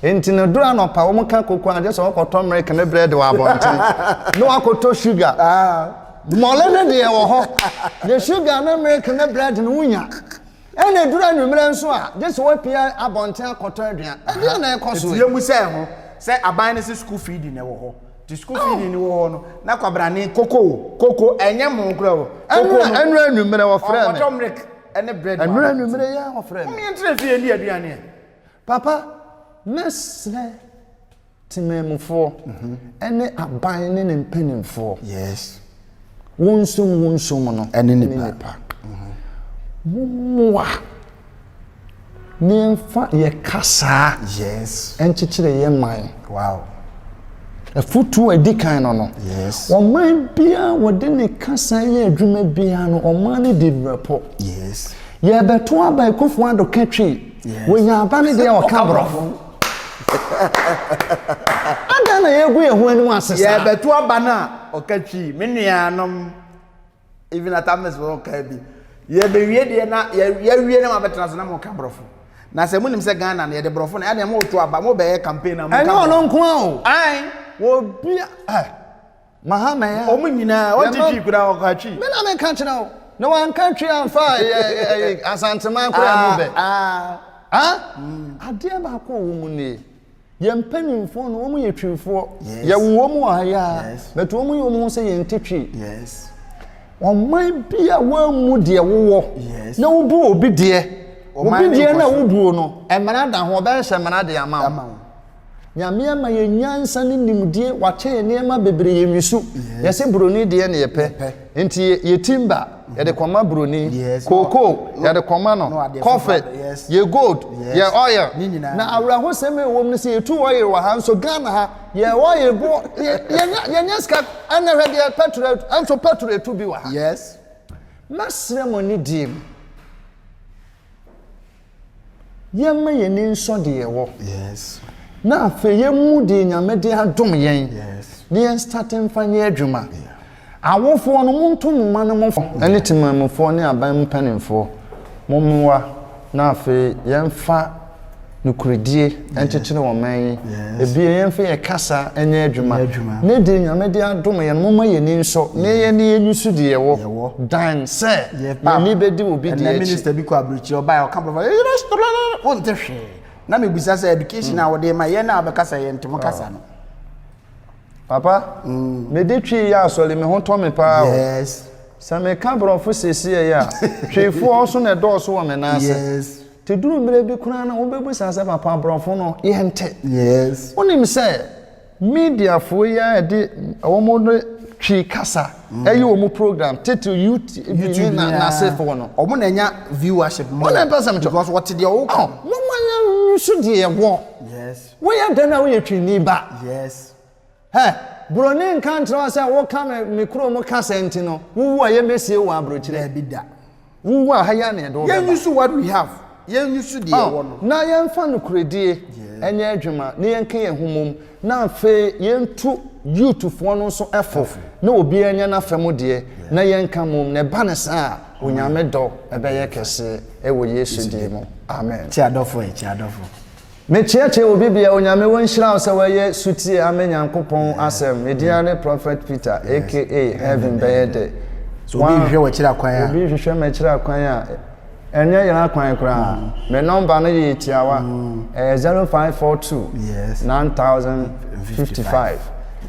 enti no duru anɔpa wɔn ka koko a gye sɛ wɔkɔtɔ milk ne bread wɔ abɔnten na wɔakɔtɔ sugar. Mmɔle no deɛ wɔ hɔ de sugar ne milk ne bread no wonya. Ɛna eduru anwummerɛ nso a gye sɛ wɔapue abɔnten akɔtɔ aduan. Ɛdeɛn na ɛrekɔ so yi? Ɛteɛ mu sɛ ɛho sɛ aban no se school feeding na ɛwɔ hɔ. Nti school feeding no wɔ hɔ no na kwabrane koko o, koko ɛnyɛ mono koraa o, koko no. Ɛnura anwummerɛ wɔfrɛ me. Ɔkɔtɔ milk. ɛne bread baako. Ɛnura nwumire yɛ ɔfrɛ no. Mo yɛn tena fie yɛn di aduane ɛ. Papa, mɛsrɛ temanmufoɔ ɛne aban ne ne mpanimfoɔ. Yes. Wonsom wonsom no ɛne nipa. Mo mmoa Yɛmfa yɛn kasa nkyekyere yɛn man. Afotuo a ɛdi kan no no, ɔman biara a wɔde ne kasa yɛ adwuma biara no, ɔman no di brɛpo. Yɛrebɛto aba Akufo Addo ka twi, wɔnya aba no deɛ ɔka Borɔfo. Adɛn na yɛregu yɛn ho anim ase saa? Yɛrebɛto aba no a ɔka twi. Me nuanom. even at amis wɔn ɔkaa bi yɛbɛwie deɛ na yɛwie na mabɛtena so na mo ka borɔfo na sɛ monim sɛ ghana no yɛde borɔfo na ɛdeɛ mo to aba mo bɛyɛ campaign na mo ka borɔfo ɛne ɔno nko a o ae wɔbi ɛ mahama ya ɔmo nyinaa ɔnti twi kura ɔkɔ atwi me na meka kyerɛ wo na wanka twi amfa asanteman koraa mu bɛ ah adeɛ baako wɔ mu nie Yɛn mpanimfoɔ no, wɔn yɛ twifoɔ. Yes. Yɛwo wɔn wɔ ha yɛ a, Yes. but wɔn yɛ wɔn ho sɛ yɛn te twi. Yes. Ɔman bi a wɔammu deɛ wowɔ Yes. na wobu obi deɛ. Ɔman Obi no deɛ nkɔ na so. wobuo no, mmara da ho, ɔbɛhyɛ mmara de ama wo. Ama wo. Nyame ama yɛ nyansa ne nimdie, wakyɛ yɛ nneɛma bebree, yɛ nwisu. Yes. Yɛse buroni deɛ ne yɛpɛ. Yɛpɛ. Nti yɛ- yɛ timber. Yɛde kɔma broni. Kookoo, yɛde kɔma no. Kɔfe, yɛ gold, yɛ oil. Na awerɛhosɛm a ɛwɔ mu no, sɛ yɛtu oil wɔ ha nso, Ghana ha, yɛ oil bo, yɛnya, yɛnya sika. Ɛnnɛ hwɛ deɛ petrol atu, ɛnso petrol ɛtu bi wɔ ha. Mɛsrɛ mo anidie mu. Yɛmma yɛn ani nsɔ deɛ ɛwɔ. Yes. Na afei yɛmmu deɛ Nyame de adom yɛn. Yes. Na yɛn start mfa nyɛ adwuma. Yeah. Awofoɔ no monto mo mma no mo fo. Yeah. Ɛne temanmufoɔ ne aban mu mpanimfoɔ mo mmoa na afei yɛmfa nokoredie. nkyekyere wɔn man yi ebien yɛmfa yɛn kasa nyɛ adwuma ne deɛ nyame de adom yɛn momma yɛn ani nsɔ ne yɛn ne yɛn nsu deɛ yɛwɔ dan sɛ yɛn ani bɛdi obi deɛ akyi ɛnɛ minister bi kɔ abirikyiri ɔbaa yɛ ɔka bɔfɔ yɛyɛ restaurant wonte hwee na mebisa sɛ education a wɔde ma yɛn a wɔbɛkasa yɛn nte mo kasa no papa mm. mede twi yɛ asɔre me ho tɔ me paa o yes sɛ meka borɔfo siesie yɛ a tweefoɔ so na ɛdɔɔso wɔ me nan ase yes Te duru mmerɛ bi koraa na wobɛbisa sɛ papa aborɔfo no yɛnte. Yes. Wonim sɛ mediafoɔ yi ara de wɔn de twi kasa ɛyɛ wɔn program tete YouTube ne na n'asefoɔ no. Wɔn na ɛnya viewership more. Wɔn na ɛpɛ sɛ mekyɛ. Because wɔte deɛ wɔka. Moma yɛnso deɛ ɛwɔ. Yes. Woyɛ dɛn a woyɛ twini ba. Yes. Hɛ! Buroni nka nkyerɛ wo sɛ woka me me kurom kasa nti no, wowu a yɛmmɛsie wo wɔ aburokyire. Daabi da. Wowu a ha yi ara na yɛde wo bɛba. Yɛn use what we have. Yɛn use deɛ yɛwɔ no. Na yɛmfa nokorɛdie nyɛ adwuma na yɛnka yɛn ho mmom na afei yɛntu youth foɔ no nso fo na obiara nya n'afa mu deɛ na yɛnka mmom. Na ɛba no saa a, Onyame dɔ bɛyɛ kɛseɛ wɔ Yesu din mu. Amen. Kyi adɔfo ɛ, kyi adɔfo. Me kyeɛkyeɛ obi bia onyame wo nhyira wo sɛ wɛyɛ sutie amɛ nyankopɔn asɛm me din ane prophet peter aka heaven bɛyɛ dɛ so obi hwehwɛ wɔ akyiri akwan a obi hwehwɛ me akyiri akwan a ɛnyɛ yɛn akwan koraa me number no yɛ tiawa ɛyɛ zero five four two nine thousand fifty five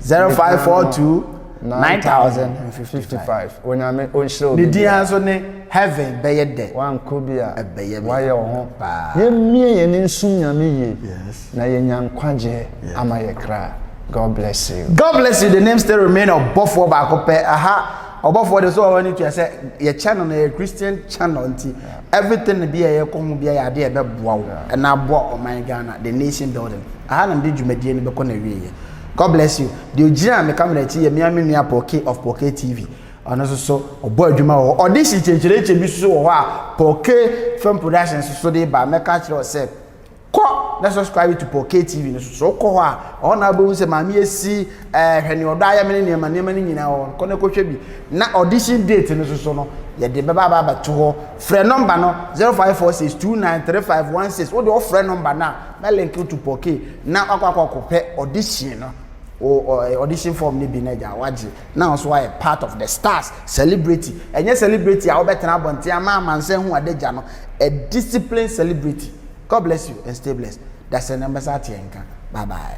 zero five four two nine thousand fifty five onyame onhyira obi ne din nso ne. Heaven bɛyɛ dɛ. Wankɔ bi a wayɛ wo ho. Yɛmmie yɛn ani nsom Nyame yie na yɛanya nkwagyeɛ ama yɛ kra. God bless you. God bless you the name still remain ɔbɔfoɔ baako pɛ aha ɔbɔfoɔ deɛ so ɔhɔ ne tua sɛ yɛ channel no yɛ Christian channel nti everything bi a yɛkɔ ho bi a yɛ adeɛ ɛbɛboa wo ɛna aboa ɔman Ghana the nation building aha na mede dwumadie no bɛkɔ na wieɛ God bless you deɛ ogyina me camera akyi yɛ mea me nua Poke of Poke TV Ɔno nso so ɔbɔ adwuma wɔ hɔ. Audition kyɛnkyerɛnkyɛn bi nso wɔ hɔ a Paul K Film Production nso so de ba. Mɛka akyerɛ wo sɛ kɔ na subscribe to Paul K TV no so. So wokɔ hɔ a, ɔhɔ na wobɛhu sɛ maame asi ɛɛ hwɛ ne ɔdɔ ayɛ me ne nneɛma nneɛma no nyinaa wɔ hɔ. Kɔ na kɔhwɛ bi. Na audition date no so so no yɛde bɛba aba abɛto hɔ. Frɛ nɔmba no 0546293516. Wode ɔfrɛ nɔmba no a na link to Paul K na wakɔ akɔ akɔpɛ audition no. O audition form no bi na agya wagye. na wo nso ayɛ part of the stars celebrity ɛnyɛ celebrity a wobɛtena abɔnten ama amansan hu adagya no a disciplined celebrity God bless you and stay blessed dasani ɔmbɛsa ate yɛn nka bye bye.